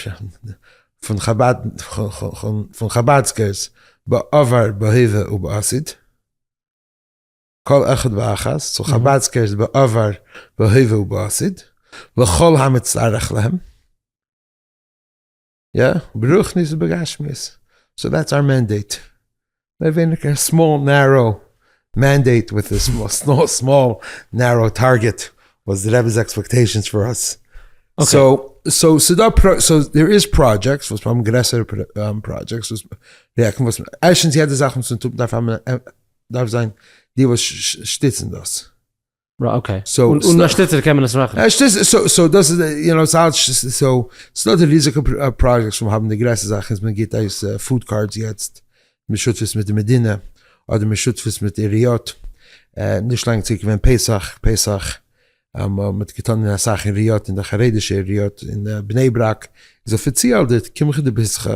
פון חבד, פון חבד'סקערס בעבר בהווה ובעתיד, כל אחד ואחת, צו חבד'סקערס בעבר בהווה ובעתיד, לכל המצטרך להם, יא, ברוחנית ובגשמיות, סאו דעטס אר מענדעיט, מער ווייניגער סמאל נעראו מענדעיט וויט א סמאל נעראו טארגעט, וואס די רעבעס עקספעקטעישענס פאר אס, סאו סאו ס'דא סאו דער איז פראדזשעקטס וואס האבן גרעסערע פראדזשעקטס וואס רעקן וואס, ערשטנס יעדע זאך וואס מען טוט דארף האבן א. דארף זיין די וואס שטיצן דאס. ר, אקעי. אן א שטיצער קען מען עס מאכן? א שטיצער, סאו, סאו דאס איז, יו נאו, סאו, ס'איז דא די ריזיגע פראיעקטס פון האבן די גרעסע זאכן איז מען גיבט אויס פוד קארדס יעצט, בשותפות מיט די מדינה, אדער בשותפות מיט עיריות, נישט לאנג צוריק געווען פסח, פסח, מ'האט געטאן אין אסאך עיריות אין די חרדישע עיריות אין בני ברק איז אפיציעל די קמחא דפסחא,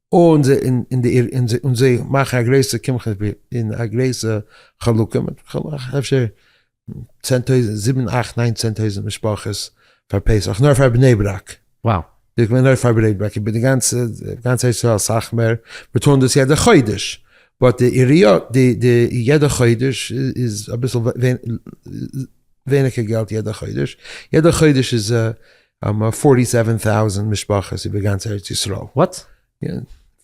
און זיי און און די און זיי און זיי מאכן א גרויסע קמחא דפי און א גרויסע חלוקה מיט אפשר צען טויזענט זיבן אכט ניין צען טויזענט משפחות פאר פסח נאר פאר בני ברק. וואו. די כ'מיין נאר פאר בני ברק איבער די גאנצע גאנץ ארץ ישראל אסאך מער, מיר טוען דאס יעדע חודש, באט די עיריות די די יעדע חודש איז אביסל ווייניגער געלט יעדע חודש, יעדע חודש איז פארטי סעווען טאוזענט משפחות איבער גאנץ ארץ ישראל. וואט?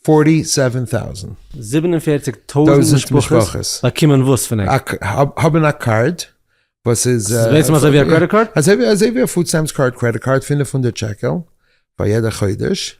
פארטי סעווען טאוזענט. זיבן און פֿערציק טויזנט משפחות באקומען וואס פון ענק? האבן א קארד וואס איז. ס'איז בעצם אזוי ווי א קרעדיט קארד? אזוי ווי א פוד סטעמפס קארד, קרעדיט קארד פֿינף הונדערט שקל פאר יעדע חודש.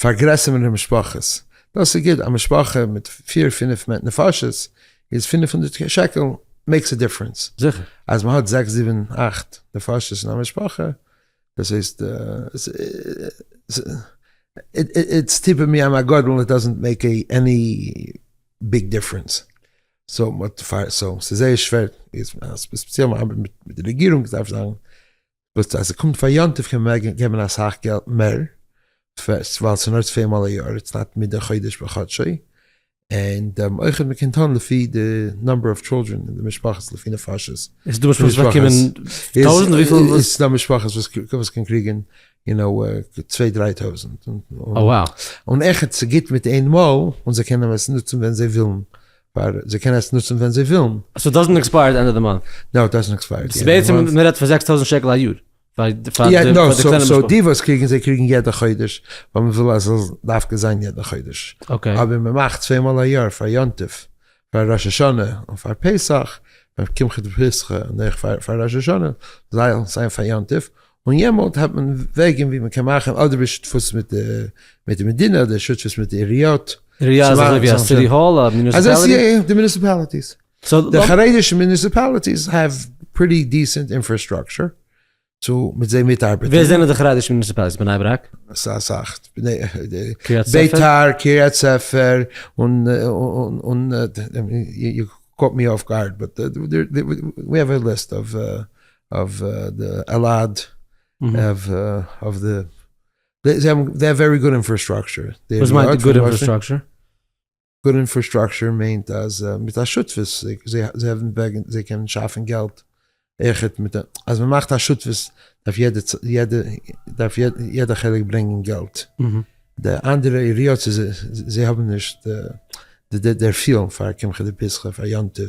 פארגרעסערן די משפחות, דאס איז גוט, א משפחה מיט פיר פינעף נפשות איז פינעף הונדערט שקל מעיקס א דיפרענס, זיכער, אז מען האט זעקס זיבן אכט נפשות אין א משפחה, דאס הייסט איטס טיפה מים הגדול און איט דאזענט מעיק עני ביג דיפרענס, סאו מען האט, סאו ס'איז זייער שווער, ספעציעל מען ארבעט מיט די רעגירונג דארף זיין. וואס אז ס'קומט פאר יום טוב קען מען מעגליך געבן אסאך געלט מער, ווייל ס'איז נאר צוויי מאל א יאר, איטס נאט מדי חודש בחדשו, און אויכעט מ'קען טון לפי די נומבער אוו טשילדרען אין די משפחות לפי נפשות, איז דא משפחות וואס באקומען טויזענט און וויפיל וואס. ס'דא משפחות וואס קען קריגען יו נאו צוויי דריי טויזענט, און אויכעט ס'גוט מיט איינמאל און זיי קענען עס נוצן ווען זיי ווילן, פאר זיי קענען עס נוצן ווען זיי ווילן. סאו דאזענט עקספייערט ענד אוו די מאנט? נאו דאזענט עקספייערט ענד אוו די מאנט. ס'בעצם מען רעדט פון זעקס טויזענט שקל א יאר פאר די קליינע משפחה. יא נאו סאו סאו די וואס קריגן זיי קריגן יעדע חודש ווייל מען וויל אז ס'זאל דווקא זיין יעדע חודש. אקעי. אבער מען מאכט צוויי מאל א יאר פאר יום טוב פאר ראש השנה און פאר פסח, פאר קמחא דפסחא און אויך פאר ראש השנה זאל עס זיין פאר יום טוב און יעמאלט האט מען וועגען ווי מען קען מאכען אדער בשותפות מיט די מיט די מדינה אדער שותפות מיט די עיריות. עיריות איז אזוי ווי א סיטי האל א מיניספעליטי? אזוי די מיניספעליטיס. די חרדישע מיניספעליטיס העוו פריטי דיסענט אינפרעסטראקשער צו מיט זיי מיטארבעטען. ווער זענען די חרדישע מיניספעליטיס? בני ברק? ס'איז אסאך. קרית ספר? ביתר, קרית ספר, און און יו קאוט מי אף גארד באט ווי העוו א ליסט אוו אויף די אלעד, אויף די, זיי האבן ווערי גוד אינפראסטראקטשער. וואס מיינט גוד אינפראסטראקטשער? גוד אינפראסטראקטשער מיינט אז מיט א שותפות, זיי האבן וועגן, זיי קענען שאפן געלט, עכפ מיט א, אז מען מאכט א שותפות דארף יעדע, יעדע, דארף יעדע חלק ברענגען געלט. די אנדערע עיריות זיי האבן נישט די דערפילן פאר קמחא דפסחא, פאר יום טוב,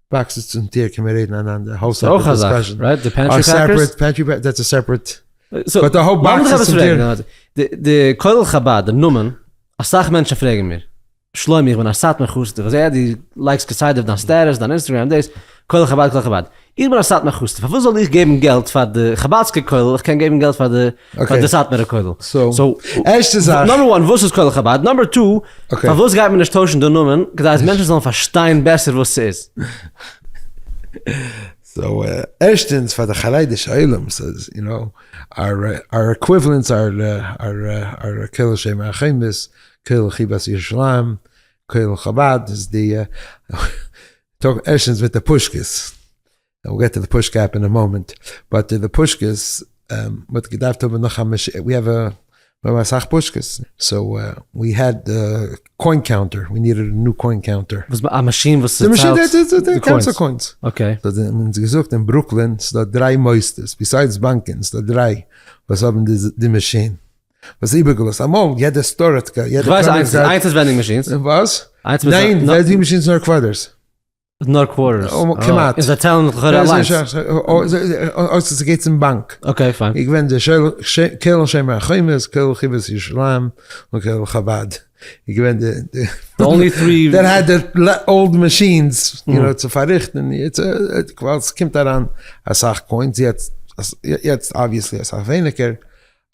באקסעס צום טיר קען מען רעדן אנאנדער האול סעפערעט דיסקאשען, רייט די פענטרי פעקערס, פענטרי פעקערס דעטס א סעפערעט, סאו באט א האול באקס לאמיר זיך עפעס פרעגן, די די כולל חבד דער נאמען, אסאך מענטשן פרעגן מיר, שלומי איך בין א סאטמאר חסיד איך זעה אז דו לייגסט כסדר דיין סטעטוס דיין אינסטעגרעם דאס, כולל חבד כולל חבד, איך בין א סאטמאר חסיד פארוואס זאל איך געבן געלט פאר די חבד'סקע כולל איך קען געבן געלט פאר די פאר די סאטמארע כולל. נאמבער וואן וואס איז כולל חבד? נאמבער טו פארוואס גייט מען נישט טוישן די נאמען כדי אז מענטשן זאלן פארשטיין בעסער וואס ס'איז? סאו ערשטענס פאר די חרדישע עולם סאיז יו נאו אר איקוויוועלענטס אר כולל שערי החמס, כולל חיבת ירושלים, כולל חבד, ערשטענס מיט די פושקעס. וויל געט טו די פושקע אפ אין א מאמענט, באט די פושקעס מ'האט געדארפט האבן נאך א מאשין, ווי עווער מיר האבן אסאך פושקעס, סאו ווי העד א קוין קאונטער, ווי נידעד א ניו קוין קאונטער. וואס א מאשין וואס די מאשין די קאונטס די קוינס. אקעי. זיי האבן אונז געזאגט אין ברוקלין ס'איז דא דריי מוסדות, ביסיידס באנקען איז דא דריי וואס האבן די מאשין, וואס איז איבערגעלאזט אמאל יעדע סטאר האט געהאט. איך ווייס איינס איינס איז ווענדינג מאשינס. וואס? ניין ווענדינג מאשינס נאר קוואדערס. נאר קווארטערס? כמעט. און זיי ציילן מיך לכאורה אליינס. אויסער ס'גייט צום באנק. אקעי פיין. איז געווען די קרן שומרי החומות, קרן חיבת ירושלים, און קרן חבד. איז געווען די. די אנלי טרי. דער האט די אולד מאשינס, יו נאו, צו פארריכטן און יעצט ווייל ס'קומט אריין אסאך קוינס יעצט, יעצט אבוויעסלי אסאך ווייניגער.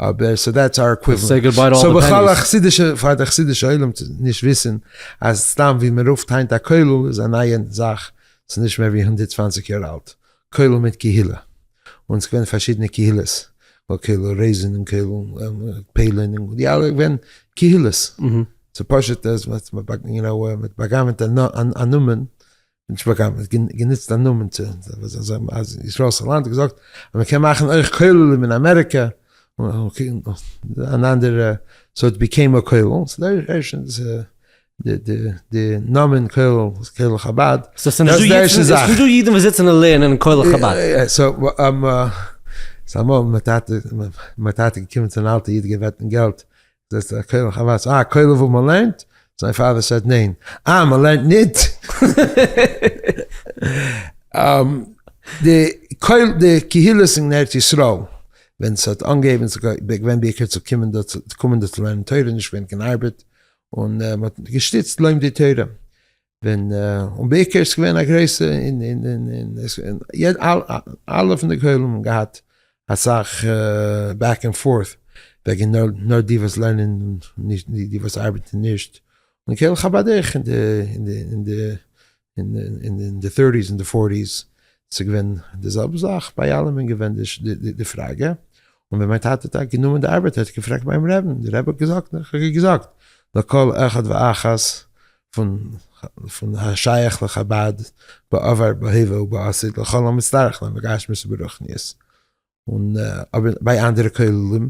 אבער סאו דעטס אווער עקוויוועלענט. סאו בכלל א חסידישע, פאר די חסידישע עולם צו נישט וויסען אז סתם ווי מען רופט היינט א כולל איז א נייע זאך, ס'איז נישט מער ווי הונדערט צוואַנציק יאר אלט, כולל מיט קהילה, און ס'איז געווען פארשידענע קהילות, וואו כולל רעזין און כולל פעלין און די אלע געווען קהילות, ס'איז פשוט אז מ'האט יו נאו מ'האט באגאנעוועט א נאמען נישט באקאנט מען האט גענוצט א נאמען צו אז ישראל סאלאנט האט געזאגט אז מען קען מאכן אויך כוללים אין אמעריקא אן אנדערע סארט ביקעם א כולל די נאמען כולל איז כולל חבד. סאו ס'נישט דא אידן ס'נישט דא אידן וואס זיצן און לערנען אין כולל חבד. סאו אמאל מיין טאטע מיין טאטע איז געקומען צו אן אלטע איד געבעטן געלט זעסט א כולל חבד סא א כולל וואו מ'לערנט? זיין פאטער זעט ניין אה מ'לערנט ניט? די כולל די קהילות אין ארץ ישראל ווען ס'האט אנגעהויבן צו גיין געווען בעיקר צו קומען דא צו קומען דא צו לערנען תורה נישט געווען קיין ארבעט און מ'האט געשטיצט לומדי תורה ווען און בעיקר איז געווען א גרויסע אין אין אין יעדע אלע פון די כוללים האבן געהאט אסאך בעק ענד פארט וועגן נאר נאר די וואס לערנען נישט די וואס ארבעטן נישט און קהל חבד אויך אין די אין די אין די אין אין אין די טירטיס און די פארטיס ס'איז געווען די זעלבע זאך ביי אלעמען איז געווען די די פראגע און ווען מיין טאטע האט גענומען די ארבעט האט ער געפרעגט ביים רעבען, די רבי האט געזאגט, נאך איך האב געזאגט לקהל אחד ואחת פון השייך לחבד בעבר בהווה ובעתיד לכל המצטרך להם בגשמיות וברוחניות, און אבער ביי אנדערע כוללים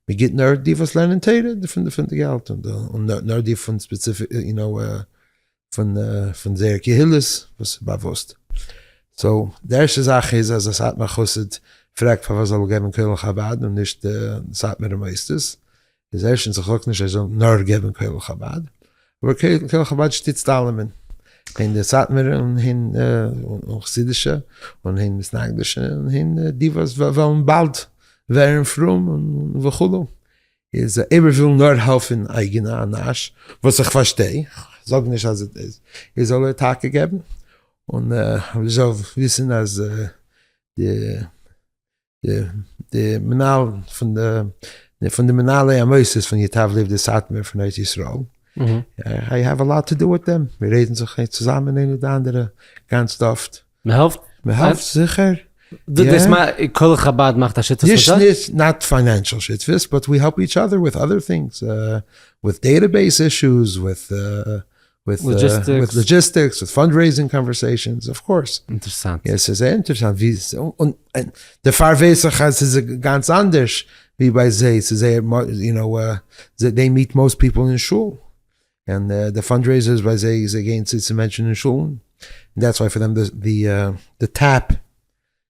מען גיט נאר די וואס לערנען תורה פון פון די געלט און נאר די פון ספעציפיק יו נאו פון פון זייער קהילות וואס איז באוואוסט, סאו די ערשטע זאך איז אז א סאטמאר חסיד פרעגט פארוואס זאל ער געבן כולל חבד און נישט די סאטמארע מוסדות, איז ערשטנס איך זאג נישט ער זאל נאר געבן כולל חבד, אבער כולל חבד שטיצט אלעמען, הן די סאטמארע און הן חסידישע און הן מתנגדישע און הן די וואס וועלן באלד ווערן פרום וכו', איז אויב ער וויל נאר העלפן אייגענע אנאש, וואס איך פארשטיי, איך זאג נישט אז עס איז, איז זאל ער טאקע געבן, און ער זאל וויסן אז די די מנהל פון די פון די מנהלי המוסדות פון יטב לב די סאטמער פון ארץ ישראל, איי העוו א לאט טו דא וויט דעם, מיר רעדן זיך צוזאמען איינער די אנדערע גאנץ אפט. מ'העלפט? מ'העלפט זיכער. דאס מאכט כולל חבד מאכט א שותפות אזש? נישט נישט נאט פיינענשעל שותפות באט ווי העלפ איטש אדער וויט אדער טינגס וויט דעטעבעיס אישוס וויט וויט לאגיסטיקס, וויט פאנדרעיזינג קאנווערסעישאנס, אוו קאורס. אינטערעסאנט. יא, ס'איז זייער אינטערעסאנט ווי עס, און דערפאר ווייס איך אז ס'איז גאנץ אנדערש ווי ביי זיי, ס'איז זייער יו נאו, זיי מיעט מאוסט פיפל אין שול, און די פאנדרעיזערס ביי זיי, זיי גייען צו מענטשן אין שולן, דעטס וויי פאר דעם די טעפ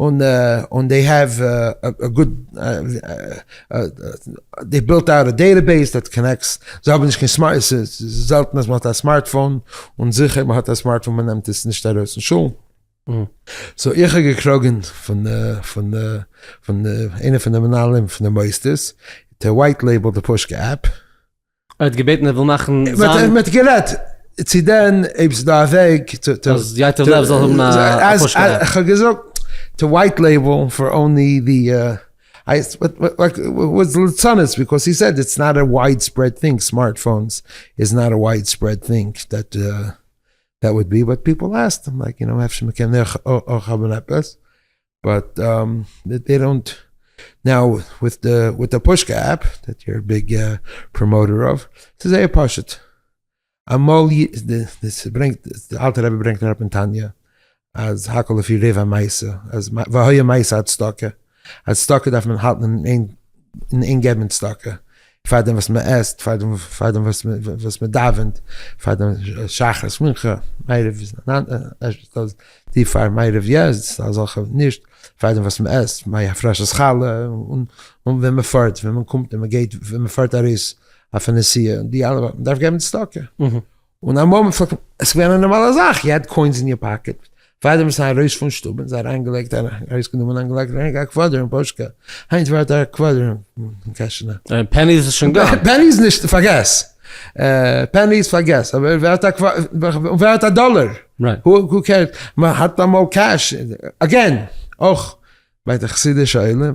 און דעי העוו א גוד, דעי בילט אוט א דעטעבעיס דעט קאנעקטס, זיי האבן נישט קיין סמארט, ס'איז זעלטן אז מ'האט א סמארטפאון, און זיכער מ'האט א סמארטפאון מ'נעמט עס נישט ארויס אין שול. סאו איך האב געקראגען פון איינע פון די מנהלים פון די מוסדות טו ווייט לעיבעל די פושקע עפפ, ער האט געבעטן ער וויל מאכן זיין. מ'האט גערעדט צו דען אויב ס'איז דא א וועג טו. אז ייטב לב זאל האבן א פושקע. כ'האב געזאגט טו ווייט לעיבל פאר אנלי די וואס ליצנות ביקאוס הי סעד איטס נאט א ווייד ספרעד טינג סמארט פאונס איז נאט א ווייד ספרעד טינג דעט דעט וואלד בי באט פיפל עסקד אים לייק יו נאו אפשר מ'קען אויך האבן עפעס באט דעי דאונט נאו וויט די וויט די פושקע עפפ דעט יור א ביג פראמאוטער אוו ס'איז זייער פשוט אמאל דאס ברענגט די אלטע רבי ברענגט אראפ אין תניא אז הכל לפי ריב המעשה אז והיה מעשה הצדקה אז צדקה דארף מען האלטן אין איין געבן צדקה פאר דעם וואס מען עסט, פאר דעם פאר דעם וואס מען דאווענט, פאר דעם שחרית מנחה מעריב איז אנדערש, די פאר מעריב יא איז דאס אזעלכע נישט, פאר דעם וואס מען עסט, מיין הפרשת חלה, און ווען מען פארט, ווען מען קומט און מען גייט, ווען מען פארט ארויס אויף א נסיעה, די אלע, מען דארף געבן צדקה. און א מאמענט פאר עס איז געווען א נארמאלע זאך, יעדע קוינס אין איר פאקעט, פארדעם איז זיי ארויס פון שטוב און זיי אריינגעלייגט ארויסגענומען איינגעלייגט און א קוואדער און פושקע, היינט ווערט א קוואדער און קעשענע. פעניס איז שוין גאן. פעניס נישט, פארגעס. פעניס פארגעס, אבער ווערט א קוואדער, ווערט א דאלער, הו קערס, מען האט אמאל קעש, אגעין, אויך ביי די חסידישע עולם.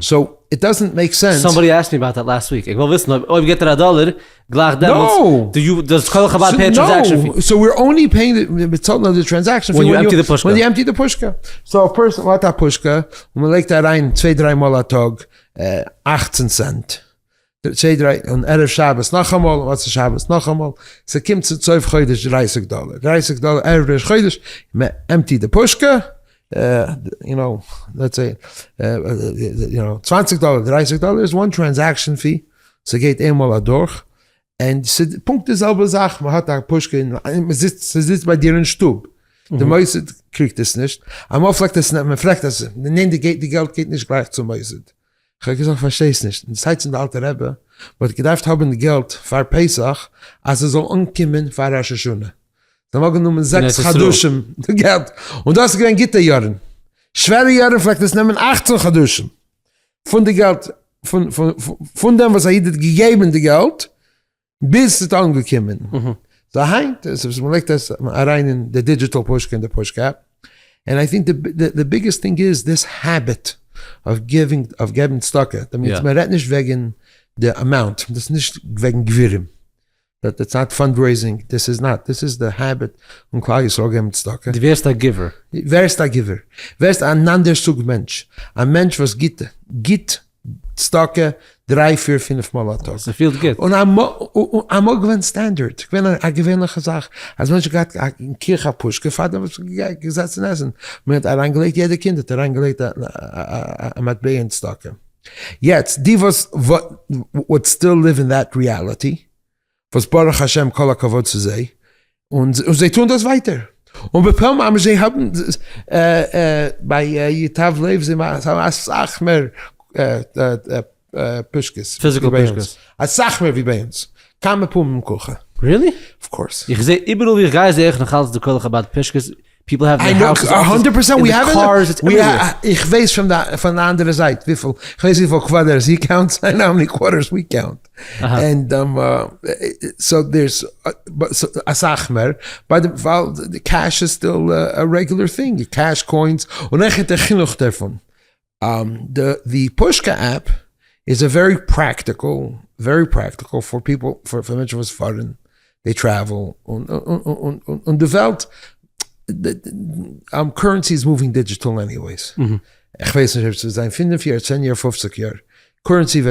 סאו איט דאזענט מעיק סענס. סאמבאדי עסקד מי אבאוט דעט לאסט וויק, איך וויל וויסן אויב אויב געט ער א דאלער גלייך דעמאלטס נאו! דאס כל חבד פעי טרענזעקשן פי. סאו וויר אנלי פעינג די, מיר צאלן נאר די טרענזעקשן פי ווען יו עמפטי די פושקע. ווען יו עמפטי די פושקע. סאו א פערסאן האט א פושקע און מען לייגט אריין צוויי דריי מאל א טאג אַכצן סענט צי דרײַ און ערב שבת נאכאמאל און מוצאי שבת נאכאמאל, ס'קומט צו סוף חודש דרײַסיק דאלער, דרײַסיק דאלער ערב ראש חודש, מען עמטיט די פושקע, יו נאו, לעטס סעי, יו נאו, צוואנציג דאלער, דרייסיג דאלער איז וואן טרענזעקשאן פי, ס'גייט איינמאל אדורך, און ס'איז פונקט די זעלבע זאך, מען האט א פושקע און מען זיצט, ס'זיצט ביי דיר אין שטוב, די מוסד קריגט עס נישט, אמאל פלעגט עס נעמען, מען פלעגט עס נעמען, די געלט גייט נישט גלייך צום מוסד. כ'האב געזאגט איך פארשטיי'ס נישט, און דאס הייסט און די אלטע רבי וואס האט געדארפט האבען די געלט פאר פסח אז עס זאל אנקומען פאר ראש השנה, זיי האבען גענומען זעקס חדשים די געלט, און דאס איז געווען גוטע יארען, שווערע יארען פלעגט עס נעמען אכצען חדשים פון די געלט פון דעם וואס א איד האט געגעבען די געלט, ביז ס'איז אנגעקומען צו היינט, איז וואס מ'לייגט עס אריין אין די דידזשיטעל פושקע און די פושקע עפפ, און איי טינק די ביגעסט טינג איז דיס העביט אויף גיווינג, אויף געבן צדקה, דערמינס מ'רעדט נישט וועגן די אמאונט, דאס איז נישט וועגן גבירים, דעטס נאט פאנדרעיזינג, דאס איז נאט, דאס איז די העביט פון כלל ישראל געבן צדקה. די ווערסט א גיווער. ווערסט א גיווער, ווערסט אן אנדער סוג מענטש, א מענטש וואס גיט, גיט צדקה דריי פיר פינף מאל א טאג. ס'פילט גוט. און אמאל געווען סטענדערד, ס'געווען א געווענליכע זאך, אז מענטש האט געהאט אין קיך א פושקע, פארדעם האט זיך געזעצן עסן, מען האט אריינגעלייגט, יעדע קינד האט אריינגעלייגט א מטבע אין צדקה. יעצט, די וואס וואט סטיל ליוו אין דעט ריעליטי, וואס ברוך השם כל הכבוד צו זיי, און זיי טוען דאס ווייטער, און בפה ממש זיי האבן ביי ייטב לב זיי האבן אסאך מער פושקעס, פיזיקעל פושקעס, אסאך מער ווי ביי אונז, כמה פעמים ככה. ריעלי? אויף קאורס. איך זעה איבעראל ווי איך גיי זעה איך נאכאלץ די כל החבד פושקעס, פיפל העוו ניו האוזעס און הונדרעט פערסענט ווי האוו קארס איטס עוועריוועיר. איך ווייס פון די אנדערע זייט וויפיל, איך ווייס וויפיל קוואדערס זי קאונט און האו מעני קוואדערס ווי קאונט, און סאו דערס אסאך מער, ביי די פאל קעש איז סטיל א רעגולער טינג, קעש קוינס, און אויך די חינוך דערפון. די פושקע עפפ איז ווערי פרעקטיקל, ווערי פרעקטיקל פאר פיפל, פאר מענטשן וואס פארן, דעי טרעוועל, און די וועלט, קורענסי איז מאווינג דידזשיטעל עניוועיס, איך ווייס נישט אויב ס'וועט זיין פֿינף יאר, צען יאר, פֿופֿציק יאר, קורענסי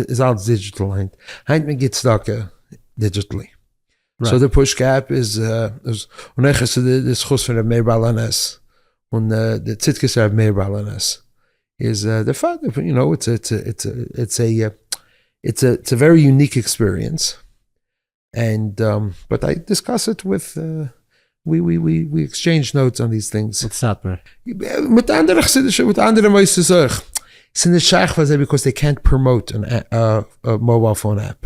איז אלץ דידזשיטעל היינט, היינט מען גיבט צדקה דידזשיטעלי, סאו די פוש קעפ איז און אויך איז די זכות פון רבי מאיר בעל הנס און די צדקת רבי מאיר בעל הנס איז די פאקט דאס יו נאו איטס א ווערי יוניק עקספיריענס ענד באט איי דיסקאס איט וויט ווי עקסטשעינדזש נאוטס אן דיס טינגס מיט סאטמאר מיט אנדערע חסידישע מיט אנדערע מוסדות אויך ס'איז נישט שייך פאר זיי ביקאויז זיי קענט פראמאוט א מאובייל פאון עפפ.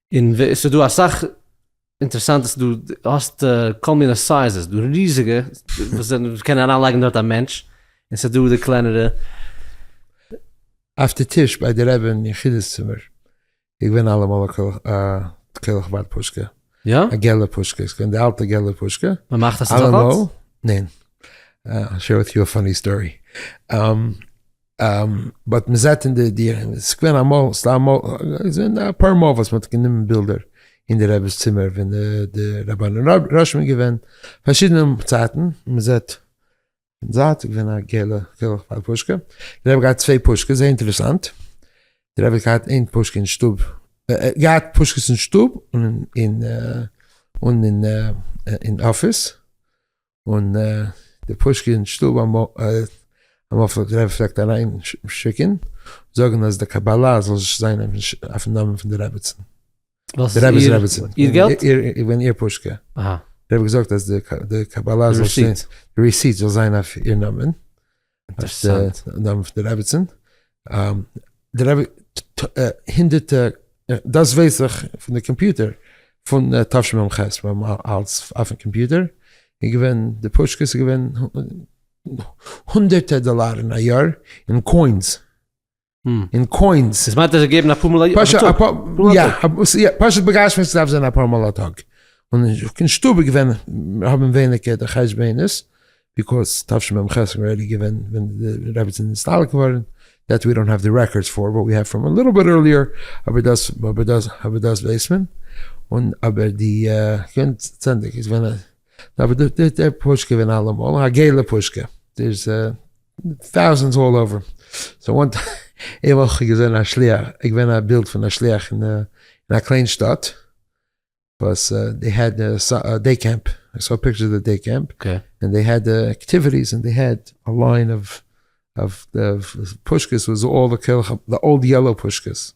און ווער עס איז דא אסאך אינטערעסאנטע ס'איז דא די האסט כל מיני סייזעס דא ריזיגע וואס זענען קען אריין לייגן דארט א מענטש און ס'איז דא די קלענערע. אויף די טיש ביי די רעבין אין יחידות צימער איז געווען אלעמאל א קעלעך א קעלעך וואדפושקע יא א געלע פושקע איז געווען די אלטע געלע פושקע מ'מאכט עס נאכאלץ? ניין. שער וויט יו א פאני סטארי. באט מ'זעט אין די די ס'איז געווען אמאל סתם אמאל איז ווען א פאר מאל וואס מ'האט גענומען בילדער אין די רב'ס צימער ווען די רבנים רושמים געווען פארשידענע צייטן מ'זעט פון זייט איז געווען א געלע געלע כ'מיין פושקע דער רבי האט געהאט צוויי פושקעס זייער אינטערעסאנט דער רבי האט געהאט איין פושקע אין שטוב געהאט פושקעס אין שטוב און אין און אין אפיס. און די פושקין שטוב המפעל רב פלעגט אריין שיקען זאגען אז די קבלה זאל נישט זיין אויפן נאמען פון די רעבעצין. וואס איז איר געלט? איך בין איר פושקע. אהא. ער האט געזאגט אז די קבלה זאל נישט זיין אויף איר נאמען. אינטערעסאנט. נאמען פון די רעביצען. די רבי הונדערטע דאס ווייס איך פון די קאמפיוטער פון תשמ ח ווען מ'האט אלס אויפן קאמפיוטער איז געווען די פושקעס איז געווען הונדערטע דאלארען א יאר אין קוינס. אין קוינס. דאס מיינט אז זיי געבן אפאר מאל א טאג? יא, פשוט בגשמי איז דארף זיין אפאר מאל א טאג. און אין שטוב איז געווען מיר האבן ווייניגער די חשבונות, ביקאוז תשמ א חתונה איז ארעדי געווען ווען די רעביצין איז נסתלק געווארן, דעט ווי דאנט העוו די רעקארדס פאר, באט ווי העוו פראם א ליטעל ביט ערליער, אבער דאס אבער דאס אבער דאס ווייס מען, און אבער די כן צענדליג איז געווען א אבער די די פושקע ווען אלעמאל א געלע פושקע, דער איז א. טאוזענדס אלל אווער. סאו וואן טיים איין וואך האב איך געזען א שליח, איז געווען א בילד פון א שליח אין א קליין שטאט, וואס זיי העד דעי קעמפ, איי סאו פיקטשערס אוו די דעי קעמפ, און זיי העד עקטיוויטיס און זיי העד א ליין אוו אוו פושקעס, וויאזוי אלל די קעלעך, די אולד יעלאו פושקעס,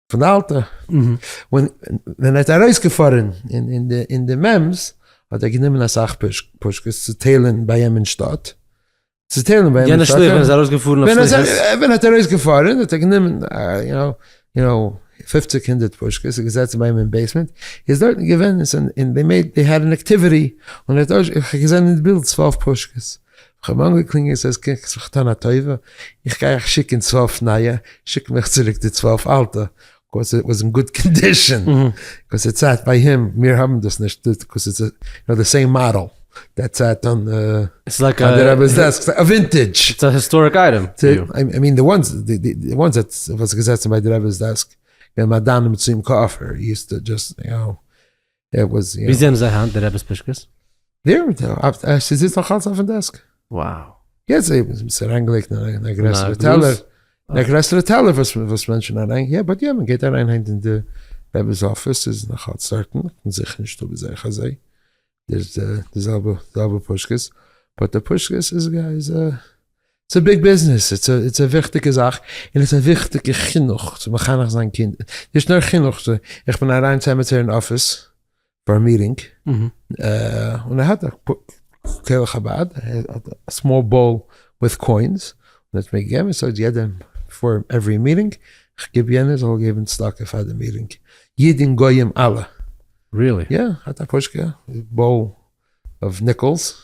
פון די אלטע, ווען ער האט ארויסגעפארען אין די מעמס האט ער גענומען אסאך פושקעס צו טיילען ביי אים אין שטאט, צו טיילען ביי אים אין שטאט, ווען ער האט ארויסגעפארען האט ער גענומען יא יא פופציג הונדערט פושקעס און געזעצט ביי אים אין בעיסמענט, איז דארטן געווען און די מעיד האט ען עקטיוועטי און ער האט אויס, איך האב געזעהן אין די בילד צוועלף פושקעס, כ'האב אים אנגעקלינגען, ס'הייסט קען איך זיך טון א טובה? איך גיי אייך שיקען צוואף נייע, שיק מיך צוריק די צוואף אלטע, קאוס איט וואס אין גוד קאנדישען, קאוס איט סעט ביי הים, מיר האבען דאס נישט דא, קאוס איט נאר די סעים מאדעל, דעט סעט אן די רבי'ס דעסק, ס'איז א ווינטעדזש, ס'איז א היסטאריק אייטעם פאר יו. איי מין די וואנס, די וואנס דעט וואס איז געזעצען ביי די רבי'ס דעסק, ווען מען האט דאן אים צו אים קאפער, יוסט טו דזשאסט יא. ער וואס ווי זענען זיי היינט די רעבעס פושקעס? דער מיט דער, עס זיצט נאך אלץ אויפן דעסק. וואו. יעצט זעהט מען עס אריינגעלייגט אין א גרעסערע טעלער, אין א גרעסערע טעלער וואס מענטשן אריין, יא באט יא מען גייט אריין היינט אין די רעבעס אפיס איז נאך אלץ דארטן, איך בין זיכער נישט דא ביז אויך אזוי, די זעלבע פושקעס, באט די פושקעס איז א. ס'איז ביג ביזנעס, ס'איז א וויכטיגע זאך, און עס איז א וויכטיגע חינוך צו מחנך זיין קינד, נישט נאר חינוך, צו, איך בין אריין צו עמיצער אין אפיס פאר א מיטינג, און ער האט א כלי חבד, א סמאל באול וויט קוינס, און ער האט מיר געגעבן, ער זאגט יעדע, ביפאר עווערי מיטינג, איך גיב יענער זאל געבן צדקה פאר די מיטינג, איד און גוים אלע. ריעלי? יא, ער האט א פושקע, באול אוו ניקעלס,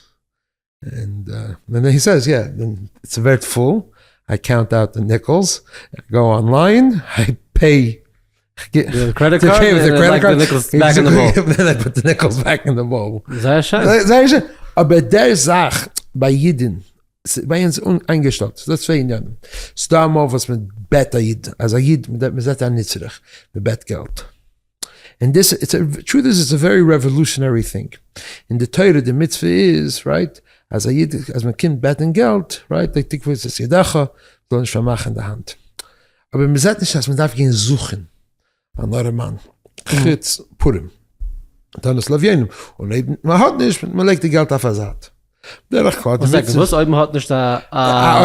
און ווען הי סעיז יא, ווען עס ווערט פול, איי קאונט אוט די ניקעלס, איך גאו אנליין, איי פעי, איך גיב די קרעדיט קארד, פוט די ניקעלס בעק אין די באול. זייער שיין. זייער שיין. אבער דער זאך ביי אידן, ביי אונז איינגעשטעלט, ס'דא צוויי עניינים. ס'דא אמאל וואס מ'בעט א איד, אז א איד, מ'זעט א נצרך, מ'בעט געלט. און דאס איז טרו דאס איז א ווערי רעוואלושענערי טינג, אין די תורה די מצוה איז רייט אז א איד אז מען קומט בעטן געלט רייט לייג תקוות את ידך זאל נישט פארמאכן די האנט, אבער מען זעט נישט אז מען דארף גיין זוכן אן ארעמאן חוץ פורים טענות לאביונים און אויב מען האט נישט מען לייגט די געלט אויף א זייט. דרך כלל האט זיך וואס אויב מען האט נישט א א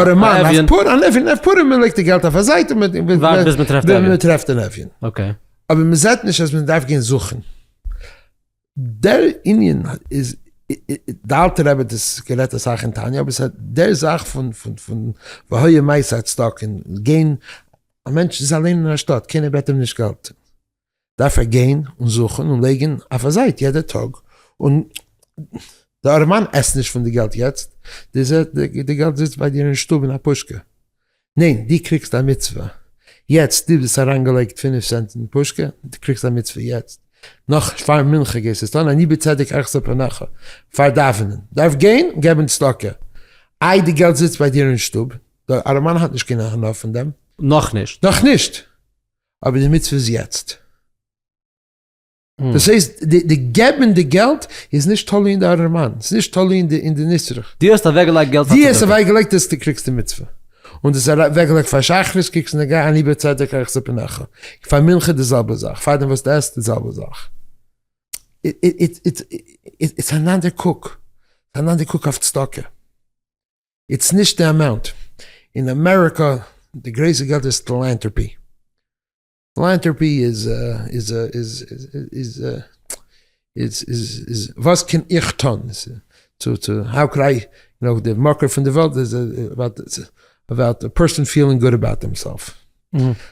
ארעמאן אויף פורים און אויף אויף פורים מען לייגט די געלט אויף א זייט און מען ווארט ביז מען טרעפט אביען טרעפט אן אביען אקעי אבער מען זעט נישט אז מען דארף גיין זוכען דער ענין איז די אלטע רבי האט עס גערעדט אסאך אין תניא אבער ס'האט דער זאך פון פון פון והיה מאי סייט סטאק און גיין א מענטש זאל לערנען אין א שטאט קיינער בעט אים נישט געלט. דארף ער גיין און זוכן און לייגן אויף א זייט יעדע טאג, און די ארעמאן עסט נישט פון די געלט יעצט, די געלט זיצט ביי דיר אין שטוב אין א פושקע, ניין דו קריגסט א מצוה יעצט, דו ביסט אריין געלייגט פֿינף סענט אין פושקע, דו קריגסט א מצוה יעצט, נאך פאר מנחה גייסט עס טון, אני בצדק אחז ל פניך, פאר דאווענען, דארף גיין און געבן צדקה, איי די געלט זיצט ביי דיר אין שטוב, די ארעמאן האט נישט קיין הנאה פון דעם. נאכנישט. נאכנישט. אבער די מצוה איז יעצט. דאס הייסט די געבן די געלט איז נישט תלוי אין די ארעמאן, ס'איז נישט תלוי אין די אין די נצרך. די האסט אוועק געלייגט געלט פאר צדקה. די האסט אוועק געלייגט אז די קריגסט די מצוה. און די האסט אוועק געלייגט פאר שחרית קריגסט און גיי אן איבער צדק אח ז פנך. פאר מנחה די זעלבע זאך, פארדעם וואס די עסט די זעלבע זאך. איטס אנאדער קוק, אנאדער קוק אויף צדקה. איטס נישט די אמאונט. אין אמעריקא די גרעסע געלט איז פילאנטרעפי. פילאנטרעפי איז וואס קען איך טון. האו קען איי, די מאקער פון די וועלט איז אבאוט א פערסאן פילינג גוד אבאוט דעמסעלף.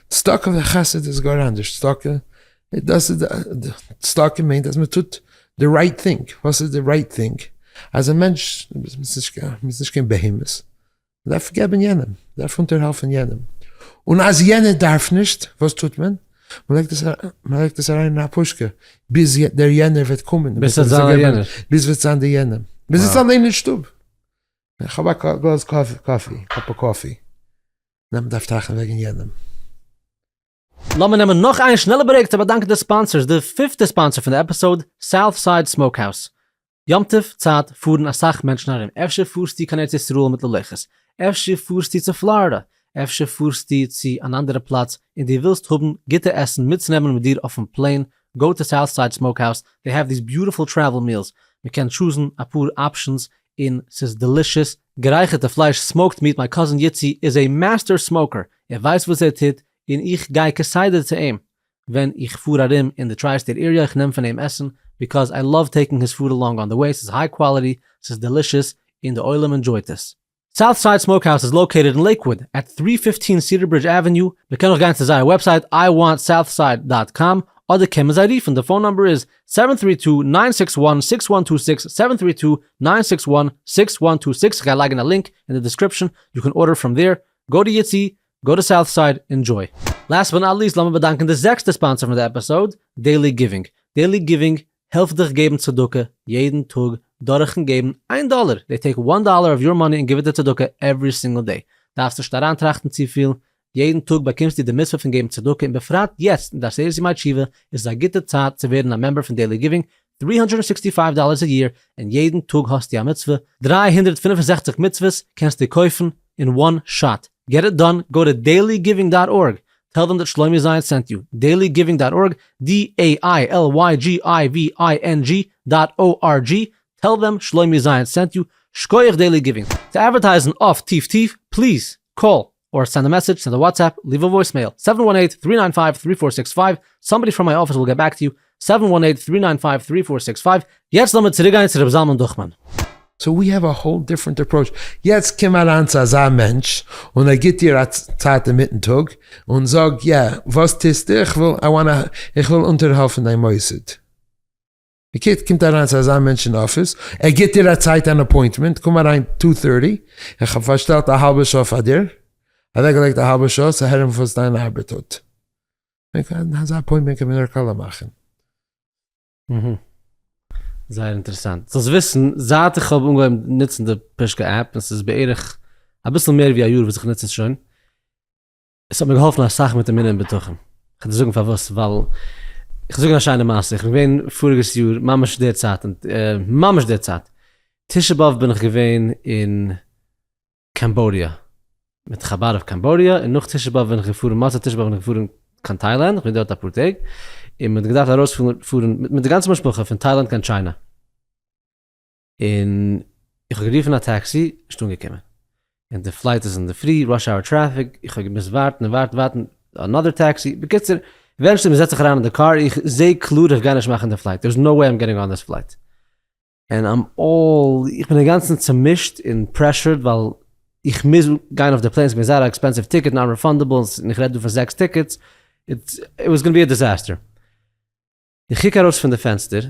צדקה און חסד איז גאר אנדערש, צדקה דאס איז די צדקה מיינט אז מען טוט די רייט טינג, וואס איז די רייט טינג? אז א מענטש איז נישט קיין בהמות דארף געבען יענעם, דארף אונטער העלפען יענעם, און אז יענער דארף נישט וואס טוט מען? מען לייגט עס אריין אין א פושקע ביז דער יענער וועט קומען, ביז וועט זיין דער יענער, ביז וועט זיין דער יענער, ביז עס איז אליין אין שטוב, איך האב א גלאז קאפי, קאפי, קאפ אוו קאפי. ווען מ'דארף טראכטן וועגן יענעם. לאמיר נעמען נאך איין שנעלע ברעיק צו באדאנקען די ספאנסערס, די פיפטע ספאנסער פון די עפיסאוד, סאוט סייד סמאוקהאוז. יום טוב צייט פארן אסאך מענטשן ארום, אפשר פארסטו קיין ארץ ישראל מיט ללכת, אפשר פארסטו צו פלארידא, אפשר פארסטו צו אן אנדערע פלאץ און דו ווילסט האבן גוטע עסן מיטצונעמען מיט דיר אויפן פלעין, גאו טו סאוט סייד סמאוקהאוז, זיי העוו דיס ביוטיפול טרעוול מיעלס, מ'קען טשוזן אפאר אפשענס און ס'איז דעלישעס, גערייכערטע פלייש סמאוקד מיעט מיי קאזין יצי איז עי מעסטער סמאוקער ער ווייסט וואס ער טוט און איך גיי כסדר צו אים ווען איך פאר ארום אין די טריי סטעיט עיריע איך נעם פון אים עסן ביקאז איי לאוו טעיקינג היז פוד אלאנג אן די וועי ס'איז היי קוואליטי ס'איז דעלישעס און די עולם אינדזשויט עס. סאוט סייד סמאוקהאוז איז לאקעיטעד אין לעיקוואוד עט טרי פיפטין סידער ברידזש עוועניו, מ'קען אויך גיין צו זייער וועבסייט איי וואנט סאוט סייד דאט קאם אדער קען מען זיי רופן די פאון נומבער איז סעווען טרי טו ניין סיקס וואן סיקס וואן טו סיקס סעווען טרי טו ניין סיקס וואן סיקס וואן טו סיקס כ'גיי לייגן א לינק אין די דיסקריפשן יו קען ארדער פראם דעיר גאו טו יצי גאו טו סאוט סייד ענדזשוי. לאסט באט נאט ליסט לאמיר באדאנקען די זעקסטע ספאנסער פון די עפיסאוד, דעילי גיווינג. דעילי גיווינג העלפט דיך געבן צדקה יעדן טאג דורכן געבן איין דאלער, דעי טעיק וואן דאלער אוו יור מאני און גיוו איט די צדקה עווערי סינגל דעי. דארפסט נישט אריינטראכטן צופיל, יעדן טאג באקומסטו די מצוה פון געבן צדקה און בפרט יעצט אין די עשרת ימי תשובה איז עס א גוטע צייט צו ווערן א מעמבער פון דעילי גיווינג, טרי האנדרעט ענד סיקסטי פייוו דאללערס א יער און יעדן טאג האסטו א מצוה, דרײַ הונדערט פֿינף און זעכציק מצוות קענסטו קויפן אין וואן שאט, געט איט דאן, גאו טו דעילי גיווינג דאט ארג, טעל דעם דאט שלומי זיין סענט יו, דעילי גיווינג דאט ארג, DAILYGIVING דאט ORG, טעל דעם שלומי זיין סענט יו, שקויעך דעילי גיווינג, צו אדווערטייזן אויף טיף טיף, פליז, קאל, אר סענד א מעסעדזש צו די וואטסעפפ, ליוו א וואויסמעיל, סעווען וואן עיט טרי ניין פייוו טרי פאר סיקס פייוו, סאמבאדי פראם מיי אפיס וויל געט בעק טו יו, סעווען וואן עיט טרי ניין פייוו טרי פאר סיקס פייוו. יעצט לאמיר צוריק גיין צו ר' זלמן דוכמאן. סאו ווי העוו א האול דיפרענט אפראוטש, יעצט קום אריין צו אזא מענטש און ער גיבט דיר א צייט אינמיטן טאג און זאג יא וואס טוסטו איך וויל איך וויל אונטערהעלפן דיין מוסד, אקעי, קומט אריין צו אזא מענטש אין אפיס, ער גיבט דיר א צייט אן אפוינטמענט, קום אריין טו טערטי, איך האב פארשטעלט א האלבע שעה פאר דיר, אוועקגעלייגט א האלבע שעה צו הערן וואס דיין ארבעט טוט. אזא אפוינטמענט קען מען נאר קאלער מאכן. זייער אינטערעסאנט. זאלסט וויסן, זייט איך האב אנגעהויבן נוצן די פושקע עפפ, און ס'איז בערך אביסל מער ווי א יאר וואס איך נוץ עס שוין, עס האט מיר געהאלפן אסאך מיט אמונה און בטחון. כ'וועל דיר זאגן פארוואס, ווייל, כ'וועל זאגן א שיינע מעשה, כ'בין געווען פאריגעס יאר ממש דער צייט, ממש דער צייט, תשעה באב בין איך געווען אין קאמבאדיע, מיט חבד אויף קאמבאדיע, און נאך תשעה באב בין איך געפארן, מוצאי תשעה באב בין איך געפארן קיין טיילאנד, כ'בין געווען דארט אפאר טעג, און מ'האט געדארפט ארויספארן מיט די גאנצע משפחה פון טיילאנד קיין טשיינע. און איך האב גערופן א טעקסי, נישט אנגעקומען. און די פלייט איז אינדערפרי, ראש האוער טרעפיק, איך האב געמוזט ווארטן און ווארטן ווארטן, אנאדער טעקסי, בקיצור, עווענטשלי מ'זעצט זיך אריין אין די קאר, איך זע קלאר איך גיי נישט מאכן די פלייט, דער'ס נאו וועי איים געטינג אן דיס פלייט. און איים אלל, איך בין אינגאנצן צומישט און פרעשור'ד ווייל איך מוז גיין אויף די פלעין, ס'געווען זייער א עקספענסיוו טיקעט, נאן רעפאנדעבל, און איך רעד דא פון זעקס טיקעטס, איט וואס גאנע בי א דיזעסטער. איך קוק ארויס פון די פענסטער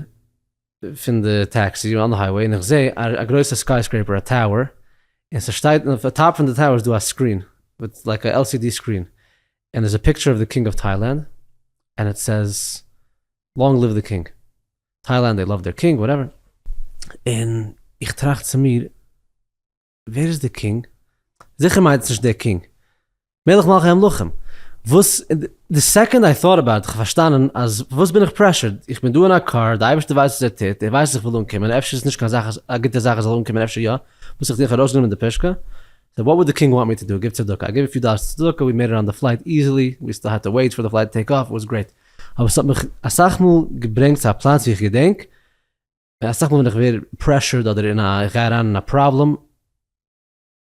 פון די טעקסי אן די הייוועי און איך זעה א גרויסע סקיי-סקרעיפער א טאוער און ס'שטייט אויף טאפ פון די טאוער איז דא א סקרין מיט לייק א LCD סקרין און איז א פיקטשער אוו די קינג אוו טיילענד און איט סעיז לאנג ליוו די קינג טיילענד דעי לאוו דער קינג וואטעווער און איך טראכט צו מיר. ווער איז דער קינג? זיכער מיינט עס נישט דער קינג. מלך מלכי המלכים. וואס, די סעקאנד איי טאוט אבאוט איט האב איך פארשטאנען אז וואס בין איך פרעשור'ד, איך בין דא אין א קאר, די אייבערשטער ווייסט וואס ער טוט, ער ווייסט איך וויל אנקומען, אפשר איז עס נישט קיין זאך אז, א גוטע זאך ער זאל אנקומען אפשר יא, מוז איך דיך ארויסנעמען די פושקע? סאו וואט וואלט די קינג וואנט מי טו דא? גיב צדקה? איי גיוו א פיו דאלערס צו צדקה, ווי מעיד איט אן די פלייט איזילי, ווי סטיל העד טו וועיט פאר די פלייט טו טעיק אףף, איט וואס גרעיט. אבער ס'האט מיך אסאך מאל געברענגט צו א פלאץ ווי איך געדענק, אסאך מאל ווען איך ווער פרעשור'ד אדער אין א איך גיי אריין אין א פראבלעם,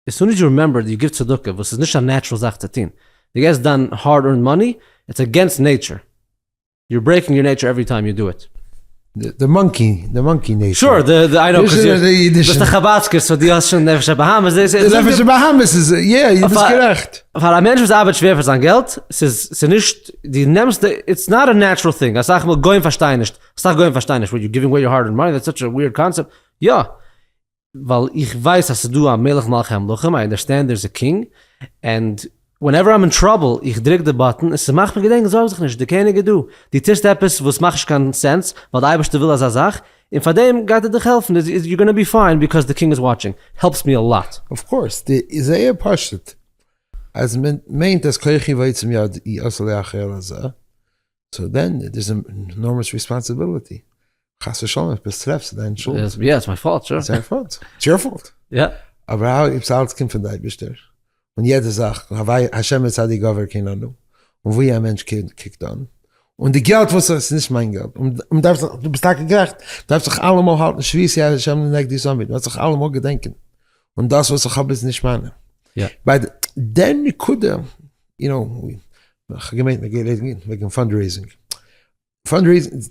עס סאן עז יו רימעמבער יו גיוו צדקה וואס איז נישט א נעטשרעל זאך צו טון, דו געסט דיין הארד ערנד מאני, איטס אגענסט נעטשער, יו ברעיקינג יור נעטשער עווערי טיים יו דא איט. די מאנקי, די מאנקי נעטשער. שור, די די איי נאו קאוז יו ביסט א חבד'סקער סאו דו האסט שוין נפש הבהמה, די נפש הבהמה איז יא דו ביסט גערעכט. פאר א מענטש וואס ארבעט שווער פאר זיין געלט, ס'איז ס'נישט דו נעמסט די איטס נאט א נעטשרעל טינג, אסאך מאל גוים פארשטייען נישט סאך גוים פארשטייען נישט, וואט יו גיווינג אוועי יור הארד ערנד מאני, דעטס סאטש א וויערד קאנצעפט, יא, ווייל איך ווייס אז ס'איז דא א מלך מלכי המלכים, איי אנדערסטענד דער איז א קינג, ענד ווענעווער איים אין טראבל איך דריק די באטטען און ס'מאכט מיר געדענקן זארג זיך נישט, די קעניג איז דא, דו טוסט עפעס וואס מאכט נישט קיין סענס ווייל די אייבערשטער וויל אזא זאך, און פאר דעם גייט ער דיך העלפן, איז יו גאנא בי פיין ביקאוז די קינג איז וואטשינג, העלפס מי א לאט. אף קאורס, די איז זייער פשוט אז מען מיינט אז כוחי ועוצם ידי עשה לאחר אלעזר, סאו דען איט איז נורמא'ס ריספאנסיביליטי, חס ושלום אויב עפעס טרעפסט איז דיין שולד. יא, איטס מיי פאלט, שור. ס'דיין פאלט, איטס יור פאלט. יא. אבער אויב ס'אלץ קומט פון די אייבישטער, און יעדע זאך, הווי השם מצעדי גבר כן ענו, און וואו א מענטש קוקט אן, און די געלט וואס איז נישט מיין געלט, און מ'דארף זיך, דו ביסט טאקע גערעכט, מ'דארף זיך אלעמאל האלטן שביעות יעשו השם לנגדי תמיד, מ'האט זיך אלעמאל געדענקען, און דאס וואס איך האב איז נישט מיינע. ביי דער נקודה, יו נאו, איך האב געמיינט מ'גייט רעדן וועגן פאנדרעיזינג. פאנדרעיזינג,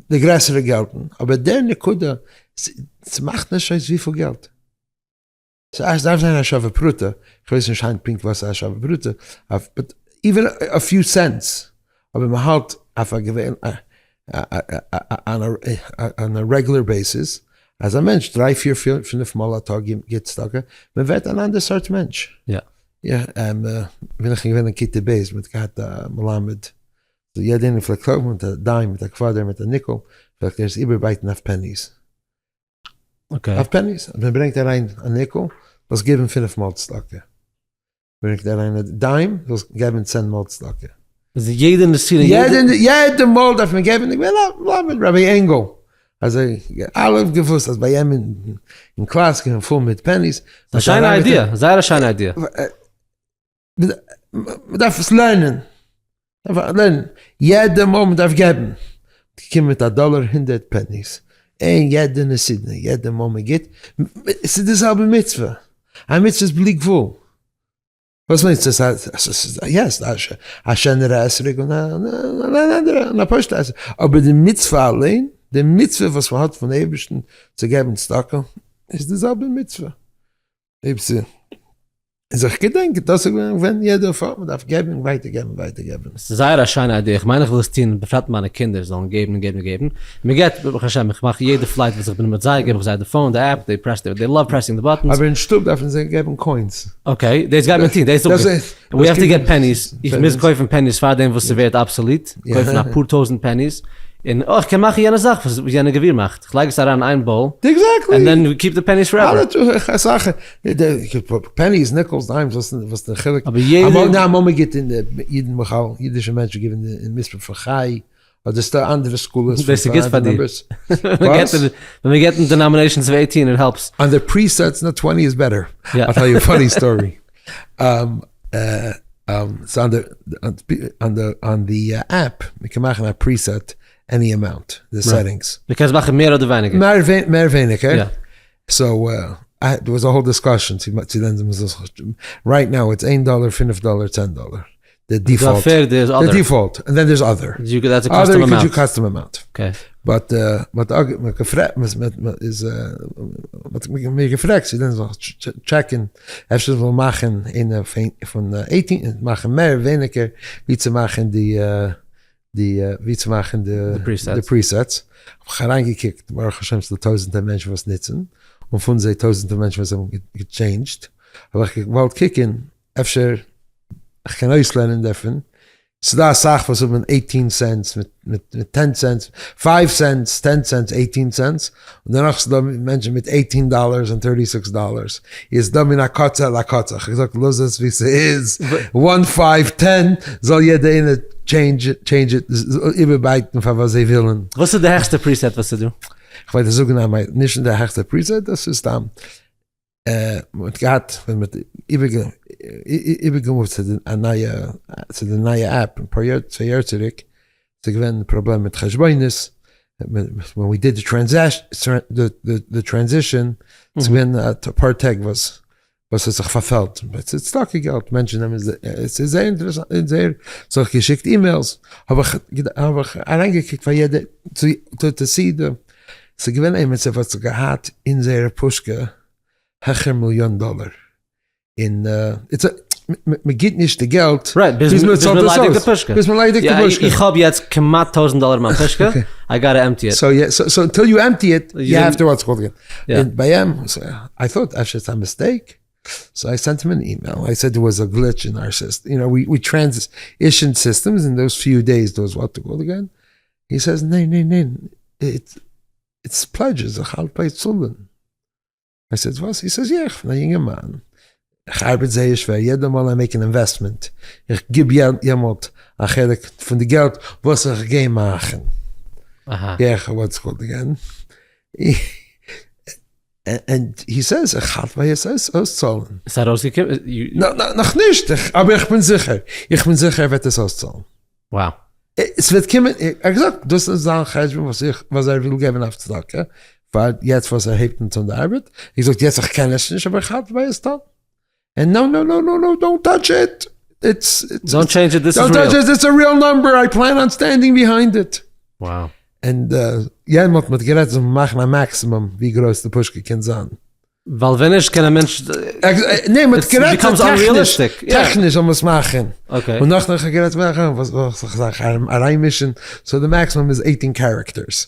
די גרעסערע געלטן, אבער דער נקודה, ס'מאכט נישט אויס וויפיל געלט. ס'איז דארף זיין א שווה פרוטה, כ'ווייס נישט היינט פונקט וואס איז א שווה פרוטה, אויף, באט איווען א פיו סענטס, אבער מען האלט אויף א געווען אן א רעגולער בעיסיס אז א מענטש דריי פיר פינעף מאל א טאג גיבט צדקה מען ווערט אן אנדער סארט מענטש. יא. יא און ווען איך בין געווען אין כיתה ב' מען האט געהאט א מלמד וואס יעדע איינער פלעגט קלעבן מיט א דיים מיט א קוואדער מיט א ניקל פלעגט ער עס איבערבייטן אויף פעניס. אויף פעניס אז מען ברענגט אריין א ניקל זאלסט געבן פינעף מאל צדקה. ברענגט ער אריין א דיים, זאלסט געבען צען מאל צדקה. איז יעדע נסיעה יעדע. יעדע יעדע מאל דארף מען געבען, געווען א מלמד רבי ענגעל, אזוי אלע געוואוסט אז ביי אים אין קלאס געווען פול מיט פעניס. א שיינע איידיע, זייער א שיינע איידיע. מען דארף עס לערנען. ניין, יעדע מאל מען דארף געבן, געקומען מיט א דאלער הונדערט פעניס, אין יעדע נסידנה, יעדע מאל מען גיט, ס'איז די זעלבע מצוה, א מצוה איז בלי גבול, וואס מיינסטו אז ס'איז א יא א שענערע עסרוג און אן אנדערע און א פשוטע עסרוג, אבער די מצוה אליין, די מצוה וואס מען האט פון אייבערשטן צו געבן צדקה, איז די זעלבע מצוה, איפסי. איז איך געדענק איז דאס געווען ווען יעדער פאר מען דארף געבן און ווייטער געבן ווייטער געבן. ס'איז זייער א שיינע איידיע, איך מיין איך וועל עס טון בפרט מיינע קינדער זאלן געבן און געבן און געבן, מען געבט ברוך השם איך מאך יעדע פלייט וואס איך בין מיט זיי געב איך זיי די פאון די עפפ דעי פרעס די דעי לאוו פרעסינג די באטענס. אבער אין שטוב דארפן זיי געבן קוינס. אקעי דאס גייט מען טון דאס זאג איך. ריכטיגע פעניס, איך מוז קויפן פעניס פארדעם וואס ס'ווערט אבסעליט, קויפן אפאר טויזענט פעניס, און אה כ'קען מאכן יענע זאך וואס יענע גביר מאכט, כ'לייג עס אריין אין איין באול, ענד דען ווי קיפ די פעניס פארעווער. פעניס, ניקעלס, דיימס, וואס די חילוק? אמאל האט מען געטון, אידן מיכל, אידישע מענטשן גיבן אין מספר פון חי, אז דאס איז א אנדערע סקול וואס איז גוט פאר דיר. וואס? ווען מען געט די דינאמינעישאן צו עיטין איט העלפס. אן די פריסעטס נאר טווענטי איז בעטער. איי טעל יו א פאני סטארי. אן די עפפ מען קען מאכן א פריסעט עני אמאונט די סעטינגס. מען קען עס מאכן מער אדער ווייניגער. מער ווייניגער. סאו דער איז א האול דיסקאשען צו דען זאל מען זיך נישט, רייט נאו איטס איין דאלער, פינף דאלער, צען דאלער, די דיפאלט, די דיפאלט, און דען דער איז אדער, אדער יו קען דזשאסט קאסטעם אמאונט, באט מען האט מיר געפרעגט צו דען זאל איך טשעקען אפשר זאל מאכען איינער פון עיטין, מאכען מער ווייניגער ווי צו מאכען די. די ווי צו מאכן די פריסעטס, האב איך אריין געקוקט, ברוך השם ס'דא טויזענטער מענטשן וואס נוצן, און פון זיי טויזענטער מענטשן וואס האבן געטשעינדזשד, האב איך געוואלט קוקן אפשר איך קען אויסלערנען דערפון, ס'דא אסאך וואס האבן עיטין סענטס, מיט טען סענטס, פייוו סענטס, טען סענטס, עיטין סענטס. און דערנאך ס'דא מענטשן מיט עיטין דאלערס און טערטי סיקס דאלערס, איז דא מן הקצה אל הקצה, כ'האב געזאגט לאז עס ווי ס'איז, וואן פייוו טען, זאל יעדע איינע טשעינדזש איט, איבערבייטן פאר וואס זיי ווילן. וואס איז די העכסטע פריסעט וואס איז דא? כ'וועל דיר זאגן א מי, נישט אין די העכסטע פריסעט, דאס איז סתם. מען האט געהאט ווען מען האט איבערגעמופט צו די נייע צו די נייע עפפ אפאר יאר צוויי יאר צוריק איז געווען פראבלעם מיט חשבונות, ווען ווי דיד די טרענזישאן איז געווען אפאר טעג וואס וואס האט זיך פארפעלט, עס איז טאקע געלט מענטשן נעמען עס עס איז זייער אינטערעסאנט זייער זיך געשיקט אימעילס האב איך האב איך אריינגעקוקט פאר יעדע טויטע סידי. ס'איז געווען עימיצער וואס האט געהאט אין זייער פושקע העכער מיליאן דאלער, און מ'גיבט נישט די געלט ביז מ'צאלט עס אויס, ביז מ'ליידיגט די פושקע. איך האב יעצט כמעט טויזנט דאלער אין מיין פושקע, איי גאטע עמפטי איט. סאו יא, סאו אנטיל יו עמפטי איט יו העוו טו וואטס קאלד אגעין. ביי אים, איי טאוט אפשר איטס א מיסטעיק, סאו איי סענט אים אן אימעיל, איי סעד דער וואס א גליטש אין אר סיסטעם, יו נאו ווי טרענזישען סיסטעמס און דאס פיו דעיס דאס וואטס קאלד אגעין, און סאיז ניין ניין ניין איטס פלעדזשער זיך אלט בייצאלען. איך זאג וואס? איך זאג יא איך בין א יונגערמאן איך ארבעט זייער שווער יעדע מאל איי מעיק אן אינוועסטמענט איך גיב יעמאלט א חלק פון די געלט וואס איך גיי מאכען. אהא. איך האב אלץ געוואלט גיין. ענד הי סעיס איך האלט ביי עס אויסצאלן. עס ארויס געקומען? נאכנישט אבער איך בין זיכער איך בין זיכער ער וועט עס אויסצאלן. וואו. עס וועט קומען ער האט געזאגט דאס איז זיין חשבון וואס איך וואס ער וויל געבן אויף צדקה פאר יעצט וואס ער הייבט אן טון די ארבעט, איך זאגט יעצט איך קען עס נישט אבער איך האלט ביי עס טון און נאו נאו נאו נאו נאו דאונט טאטש איט איטס דאונט טשעינדזש איט דיס איז ריעל דאונט טאטש איט איטס א ריעל נאמבער איי פלען אן סטענדינג ביהיינד איט וואו און יענעם האט מיט גערעדט זאל מען מאכן א מעקסימום ווי גרויס די פושקע קען זיין. ווייל ווען נישט קען א מענטש. נעה מ'האט גערעדט פון טעכניש, טעכניש זאל מען עס מאכן, און נאך נאך האט גערעדט וואס זאל איך זיך אריינמישן, סאו די מעקסימום איז עיטין קערעקטערס.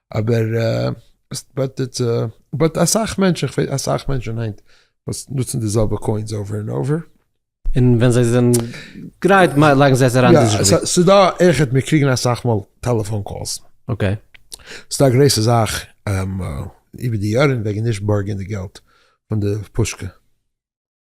אבער באט אסאך מענטשן, איך ווייס אסאך מענטשן היינט וואס נוצן די זעלבע קוינס אווער און אווער. און ווען זיי זענען גרייט לייגן זיי עס אריין דיזשעטלי. יא, ס'איז דא עכט, מיר קריגן אסאך מאל טעלעפאון קאלס. אקעי. ס'איז דא א גרויסע זאך איבער די יארן וועגן נישט בארגען די געלט פון די פושקע.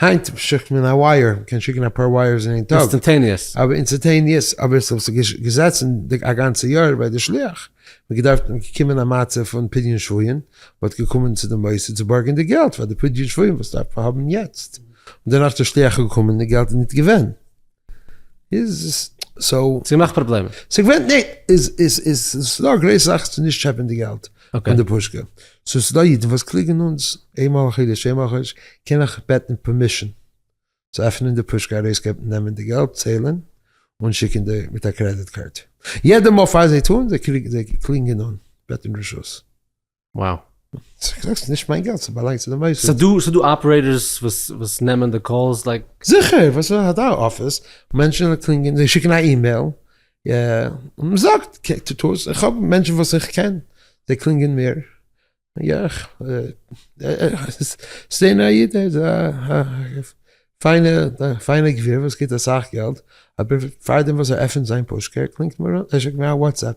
היינט שיקט מען א ווייער, מען קען שיקן אפאר ווייערס אין איין טאג. אינסטענטעניעס. אבער אינסטענטעניעס, אבער עס האט זיך געזעצן א גאנצע יאר ביי די שליח, מען האט געדארפט און געקומען א מצב פון פדיון שבויים, מען האט געקומען צו די מוסד צו בארגן די געלט פאר די פדיון שבויים וואס דארף מען האבן יעצט, און דערנאך די שליח האט געקומען און די געלט איז נישט געווען. איז סאו. ס'מאכט פראבלעמען. ס'געווען נע איז איז איז ס'דא א גרויסע זאך צו נישט טשעפען די געלט פון די פושקע. סאו ס'דא אידן וואס קלאגן אונז איינמאל א חודש צוויי מאל א חודש קען איך בעטן פערמישן צו עפענען די פושקע ארויסקעפ נעמען די געלט ציילען און שיקען די מיט א קרעדיט קארד יעדע מאל פאר זיי טוהן זיי קלינגען אן בעטן רשות. וואו. ס'איז נישט מיין געלט, ס'באלאנגט צו די מוסד. ס'איז דא אפערעיטארס וואס נעמען די קאלס לייק. זיכער, וואס איז א אפיס, מענטשן קלינגען, זיי שיקן א אימעיל, און מ'זאגט, איך האב מענטשן וואס איך קען, זיי קלינגען מיר, יא, ס'זעהן א איד איז א פיינע פיינע גביר וואס גיבט אסאך געלט, אבער פארדעם וואס ער עפענט זיין פושקע, קלינגט מיר אן, ער שיקט מיר א וואטסעפפ,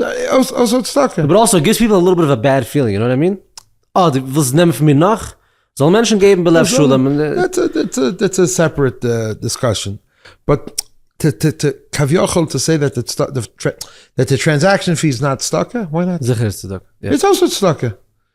עס האט צדקה. אבער אלסא גיווס פיפל א ליטל ביט אוו א בעד פילינג יו נאו וואט איי מין, אה דו ווילסט נעמען פון מיר נאך? זאלן מענטשן געבן בלב שלום. דעטס א סעפערעט דיסקאשען, באט טו טו טו כביכול טו סעי דעט די טרענזעקשען פי איז נאט צדקה, וויי נאט? זיכער איז צדקה. איז אלסא צדקה.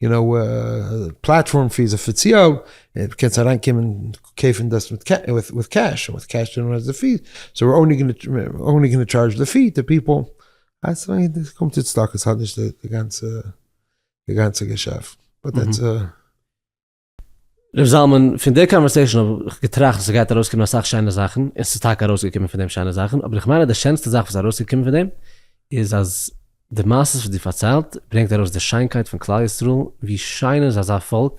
יו נאו, פלאטפארם פי איז אפיציעל, קענסט אריין קומען קויפן דאס מיט קעש, און מיט קעש דארף מען האבן די פי, סאו ווער אנלי גאנא טשארדזש די פי טו פיפל, קומט צו צדקה, ס'האט נישט די גאנצע געשעפט. רב זלמן, פון די קאנווערסעישאן האב איך געטראכט אז ס'גייט ארויסקומען אסאך שיינע זאכן, און ס'איז טאקע ארויסגעקומען פון דעם שיינע זאכן, אבער איך מיין אז די שענסטע זאך וואס איז ארויסגעקומען פון דעם איז אז די מעשות וואס דו פארציילט ברענגט ארויס די שיינקייט פון כלל ישראל, ווי שיין איז אזא פאלק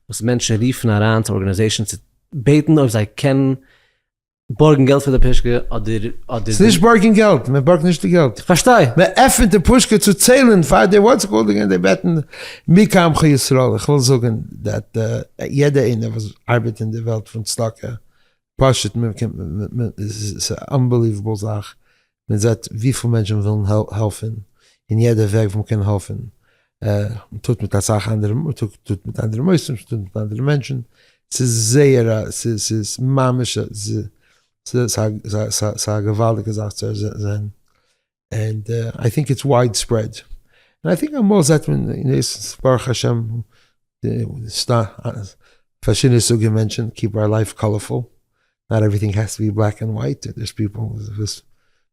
וואס מענטשן רופן אריין צו ארגאניזעישאן צו בעטן אויב זיי קענען בארגן געלט פאר די פושקע אדער אדער. ס'איז נישט בארגן געלט, מען בארגט נישט די געלט. כ'פארשטיי. מען עפענט די פושקע צו ציילען פאר די וואטס קאלד אגעין די בעטן מי כעמך ישראל איך וויל זאגען דעט יעדע איינער וואס ארבעט אין די וועלט פון צדקה פשוט מען קען מען איז עס א אנבעליוועבל זאך מען זעט וויפיל מענטשן ווילן העלפן אין יעדע וועג וואס מען קען העלפן, מען טוט מיט אסאך אנדערע, מען טוט מיט אנדערע מוסדות, מען טוט מיט אנדערע מענטשן, ס'איז זייער א, ס'איז ממש ס'איז א געוואלדיגע זאך צו זען, און איי טינק איטס ווייד ספרעד, און איי טינק אמאל זעט מען און דאס איז ברוך השם, פארשידענע סוגי מענטשן קיפ אווער לייף קאלערפול, נאט עווריטינג העז טו בי בלעק ענד ווייט, דערס פיפל וואס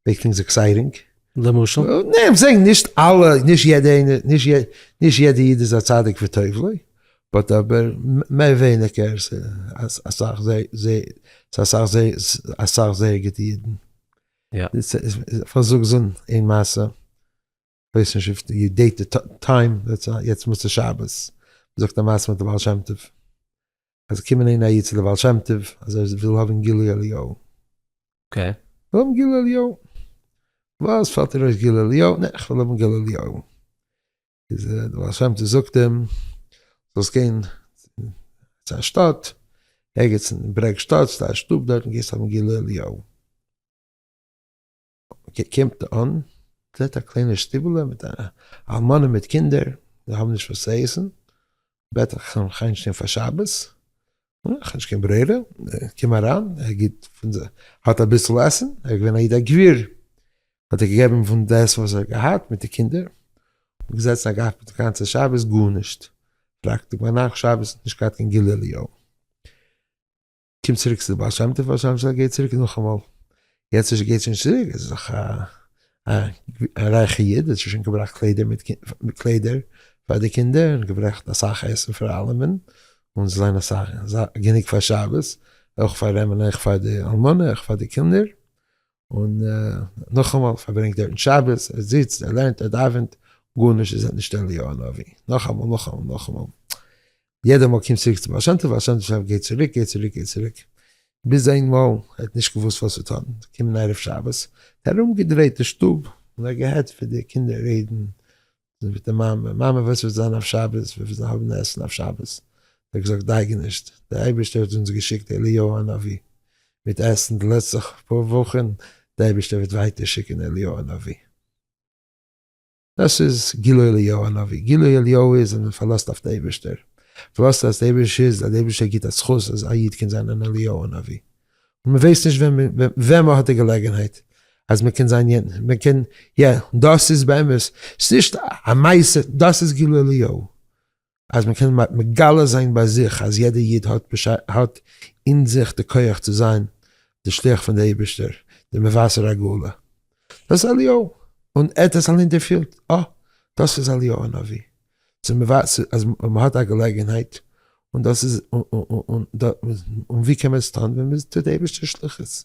מעיק טינגס עקסייטינג. למשל? ניין, איך זאג נישט אלע, נישט יעדע איינער, נישט יעדע איד איז א צדיק וטוב לו, באט אבער מער ווייניגער אסאך זייער גוטע אידן פארזאגזען אין מעשה. כ'ווייס נישט אויב יו דעיט די טיים, יעצט מוצאי שבת געזאגט א מעשה מיט די בעל שם טוב, אז געקומען איינער א איד צו די בעל שם טוב אז ער וויל האבען גילוי אליהו. אקעי. וויל האבען גילוי אליהו. וואס פעלט דיר אויס גילוי אליהו? נע כ'וויל האבען גילוי אליהו. איז די בעל שם טוב זאגט אים, זאלסט גיין צו א שטאט, ערגעץ אין ברעג שטאט איז דא א שטוב דארטן גייסט האבען גילוי אליהו. קומט אן, זעט א קליינע שטיבעלע מיט א אלמנה מיט קינדער, זיי האבן נישט וואס צו עסן, בעט א חן חנשטיין פאר שבת, כ'האב נישט קיין ברירה, קום אריין, ער גיבט פון זיי, האט אביסל עסן, ער איז געווען א איד א גביר, האט ער געגעבן פון דאס וואס ער האט געהאט מיט די קינדער, און געזעצן און געארבעט די גאנצע שבת גארנישט, פרייטאג ביינאכט שבת נישט געהאט קיין גיל אליהו. קומט צוריק צו די בעל שם טוב, בעל שם טוב זאגט גיי צוריק נאכאמאל, יעצט איז גייט שוין צוריק, עס איז דאך א א רייכע איד, ער האט שוין געבראכט קליידער מיט קליידער פאר די קינדער, און געבראכט אסאך עסן פאר אלעמען, און עס זענען אסאך גענוג פאר שבת, אויך פאר אים און אויך פאר די אלמנה, אויך פאר די קינדער, און נאכאמאל פארברענגט דארטן שבת, ער זיצט, ער לערנט, ער דאווענט, גארנישט איז ער נישט עליהו הנביא, נאכאמאל, נאכאמאל, נאכאמאל. יעדער מאל קומט צוריק צום בעל שם טוב, בעל שם טוב שרייבט גיי צוריק, גיי צוריק, גיי צוריק, ביז איינמאל ער האט נישט געוואוסט וואס צו טון, געקומען ערב שבת, האט ער ארומגעדרייט די שטוב, און ער האט געהערט ווי די קינדער רעדן מיט די מאמע, מאמע וואס וועט זיין אויף שבת, ווען וועט מען האבן עסן אויף שבת, האט ער געזאגט דאגה נישט, דער אייבערשטער האט אונז געשיקט אליהו הנביא מיט עסן די לעצטע פאר וואכן, דער אייבערשטער וועט ווייטער שיקן אליהו הנביא. דאס איז גילוי אליהו הנביא, גילוי אליהו איז אז מען פארלאזט אויף די אייבערשטער, פארלאזט אז די אייבערשטער איז, אז די אייבערשטער גיט א זכות אז א איד קען זיין אן אליהו הנביא, און מען ווייסט נישט ווען מען האט די געלעגענהייט אז מען קען זיין יענעם, מען קען יענעם, דאס איז באמת, ס'איז נישט א מעשה, דאס איז גילוי אליהו. אז מען קען מגלה זיין ביי זיך אז יעדער איד האט האט אין זיך די כח צו זיין די שליח פון די אייבערשטער, די מבשר הגאולה. דאס איז אליהו, און ער האט דאס אליין ערפילט. אה, דאס איז אליהו הנביא, צו מבשר אז מען האט א געלעגנהייט, און דאס איז און ווי קען מען עס טון ווען מען טוט די אייבערשטער'ס שליחות,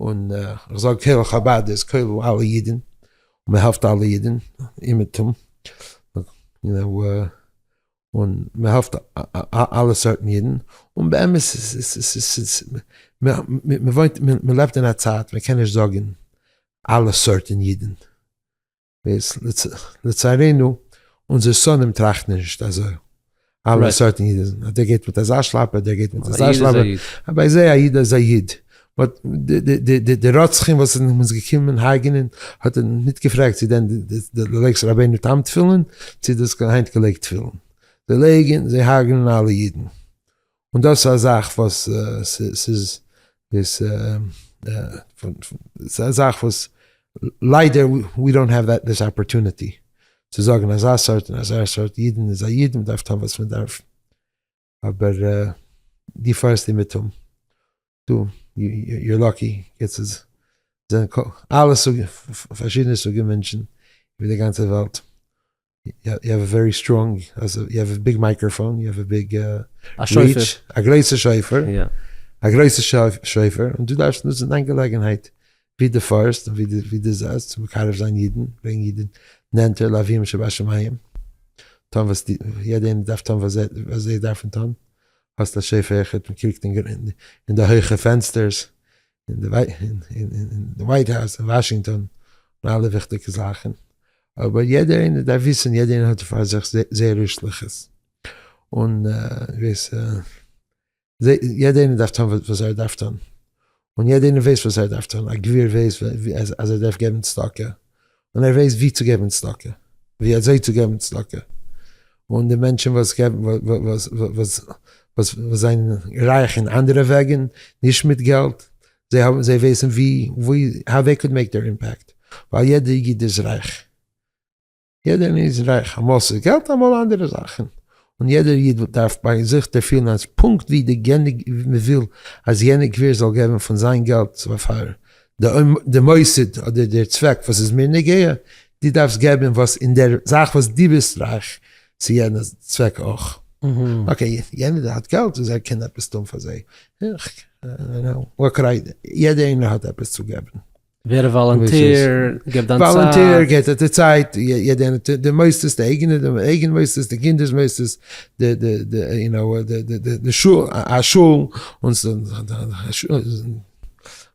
און איך זאג כולל חבד איז כולל אלע אידן, און מען העלפט אלע אידן אומעטום, און מען העלפט אלע סארטן אידן, און באמת ס'איז מען וואוינט מען לעבט אין א צייט מען קען נישט זאגן אלע סארטן אידן. לצערינו אונזער שונאים טראכטן נישט אזוי, אלע סארטן אידן, דער גייט מיט אזא שלאפער, דער גייט מיט אזא שלאפער, ביי זיי א איד איז א איד, די רוצחים וואס האבן אונז געקומען הרג'נען האט ער נישט געפרעגט צו דען דו לייגסט רבינו תם תפילין, צו דו האסט היינט געלייגט תפילין, זיי לייגן, זיי הרג'נען אלע אידן, און דאס איז א זאך וואס ס'איז א זאך וואס ליידער ווי דאנט העוו דעיס אפארטוניטי צו זאגן אזא סארט און אזא סארט אידן איז א איד און מ'דארף טון וואס מ'דארף, אבער דו פארסט אומעטום, דו יור לאקי יעצט איז זענען אלע סוגים פארשידענע סוגים מענטשן איבער די גאנצע וועלט, יו האוו א ווערי סטראנג, יו האוו א ביג מייקראפאון, יו האוו א ביג ריעטש, א גרויסע שופר, א גרויסע שופר, און דו דארפסט נוצן דיין געלעגנהייט ווי דו פארסט און ווי דו זעסט צו מקרב זיין אידן, ברענגן אידן נענטער לאביהם שבשמים, טון וואס יעדע איינער דארף טון וואס זיי דארפן טון, האסט א שופר אחד, מען קוקט אין די הויכע פענסטערס, אין די ווייט האוז אין וואשינגטאן און אלע וויכטיגע זאכן, אבער יעדער איינער דארף וויסן יעדער איינער האט פאר זיך זייערע שליחות, און וויס יעדער איינער דארף טון וואס ער דארף טון, און יעדער איינער ווייסט וואס ער דארף טון, א גביר ווייסט אז ער דארף געבן צדקה, און ער ווייסט ווי צו געבן צדקה, ווי אזוי צו געבן צדקה, און די מענטשן וואס געבן וואס וואס וואס זענען רייך אין אנדערע וועגן, נישט מיט געלט, זיי האבן זיי ווייסן ווי ווי האו דעי קאלד מעיק דעיר אימפעקט, ווייל יעדער איד איז רייך, יעדער איד איז רייך, אמאל ס'איז געלט אמאל אנדערע זאכן, און יעדער איד דארף ביי זיך דערפילן אז פונקט ווי די געניג מען וויל אז יענע גביר זאל געבן פון זיין געלט פאר די מוסד אדער דער צוועק וואס איז מיר נוגע, דו דארפסט געבן וואס אין דער זאך וואס דו ביסט רייך צו יענע צוועק אויך. אקעי, יענער האט געלט וואס ער קען עפעס טון פאר זיי, איך, וואט קען איי דא, יעדער איינער האט עפעס צו געבן. ווער וואלענטיר געבט דיין צייט. וואלענטיר געבט די צייט, יעדער די מוסדות, די אייגענע אייגענע מוסדות, די קינדער'ס מוסדות, די די די יו נאו די שול, א שול, און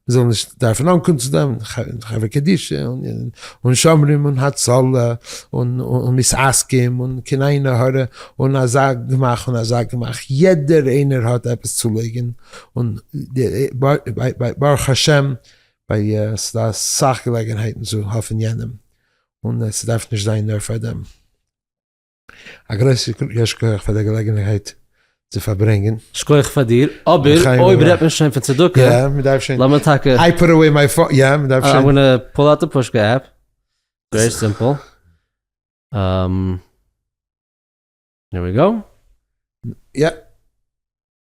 מ'זאל נישט דארפן אנקומען צו דעם, חברה קדישא און שומרים און הצלה און מתעסקים און קני נהרא און אזא גמח און אזא גמח, יעדער איינער האט עפעס צו לייגן, און ברוך השם ביי ס'דא אסאך געלעגענהייטן צו האפן יענעם, און ס'דארף נישט זיין נאר פאר דעם. א גרויסע יש כח פאר די געלעגענהייט צו פארברענגען. שכוח פאר דיר, אבער אויב רעדט מען שוין פון צדקה, לאמיר טאקע, איי פוט אוועי מיי פאון, יא מ'דארף שוין, איים גאנא פול אוט די פושקע עפפ, ווערי סימפל, אהמ, הער ווי גאו. יא.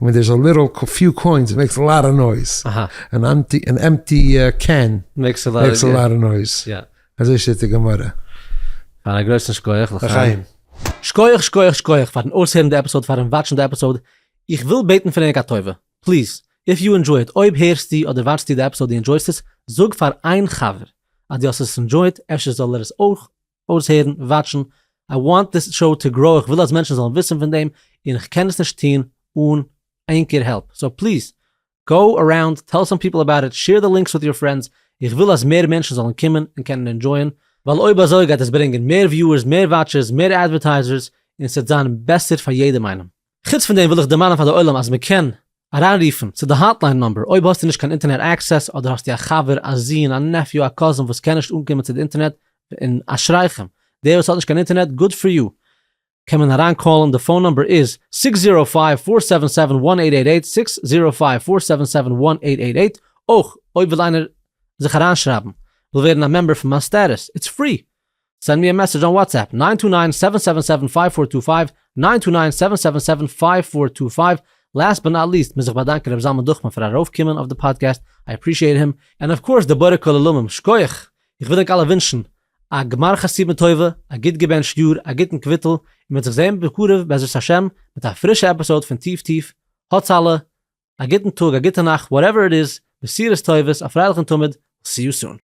ווען דער איז א ליטעל פיו קוינס מעקס א לאט אוו נויז, אן עמטי קען מעקס א לאט אוו נויז, אזוי שטייט אין גמרא. פאר א גרויסן שכוח לחיים. שכוח שכוח שכוח פארן אויסהערן די עפיסאוד פארן וואטשן די עפיסאוד, איך וויל בעטן פון ענק א טובה, פליז איף יו אינדזשויעט אויב הערסטו אדער וואטשסטו די עפיסאוד די אינדזשויסט עס זאג פאר איין חבר אז די האסט עס אינדזשויעט אפשר זאל ער עס אויך אויסהערן, וואטשן, איי וואנט דיס שאו טו גראו, איך וויל אז מענטשן זאלן וויסן פון דעם, און איך קען עס נישט טון אן ענקער העלפ, סאו פליז, גאו אראונד, טעל סאם פיפל אבאוט איט, שעיר די לינקס וויט יור פרענדס, איך וויל אז מער מענטשן זאלן קומען און קענען ענדשויען, ווייל אויב אזוי גייט עס ברענגען מער וויוערס, מער וואטשערס, מער אדווערטייזערס, און ס'וועט זיין בעסער פאר יעדעם איינעם. חוץ פון דעם וויל איך דערמאנען פאר די עולם אז מ'קען אריינרופן צו די האטליין נומבער אויב האסטו נישט קיין אינטערנעט עקסעס אדער האסטו א חבר א זון א נעפיו א קאזין וואס קען נישט אנקומען צו די אינטערנעט און אשריכם דער וואס האט נישט קיין אינטערנעט גוד פאר יו קען מען אריין קאלן די פאון נומבער איז סיקס זירא פייוו פאר סעווען סעווען וואן עיט עיט עיט סיקס זירא פייוו פאר סעווען סעווען וואן עיט עיט עיט אויך אויב וויל איינער זיך אריינשרייבן וויל ווערן א מעמבער פון מיין סטעטוס איטס פרי סענד מי א מעסעדזש אן וואטסעפפ, ניין טו ניין סעווען סעווען סעווען פייוו פאר טו פייוו, ניין טו ניין סעווען סעווען סעווען פייוו פאר טו פייוו, לאסט באט נאט ליסט מוז איך באדאנקען ר' זלמן דוכמאן פאר ארויף קומען אויף די פאדקעסט, איי אפרישיעט הים, ענד אף קאורס די בורא כל עולמים, שקויעך, איך וויל ענק אלע ווינטשן א גמר חסימה טובה, א גוט געבענטשט יאר, א גוטן קוויטל, און מ'וועט זיך זעהן בקרוב בעזרת השם מיט א פרישע עפיסאוד פון טיף טיף, הצלה, א גוטן טאג א גוטע נאכט וואטעווער איט איז, בשורות טובות, א פרייליכן תמיד, וויל סי יו סון.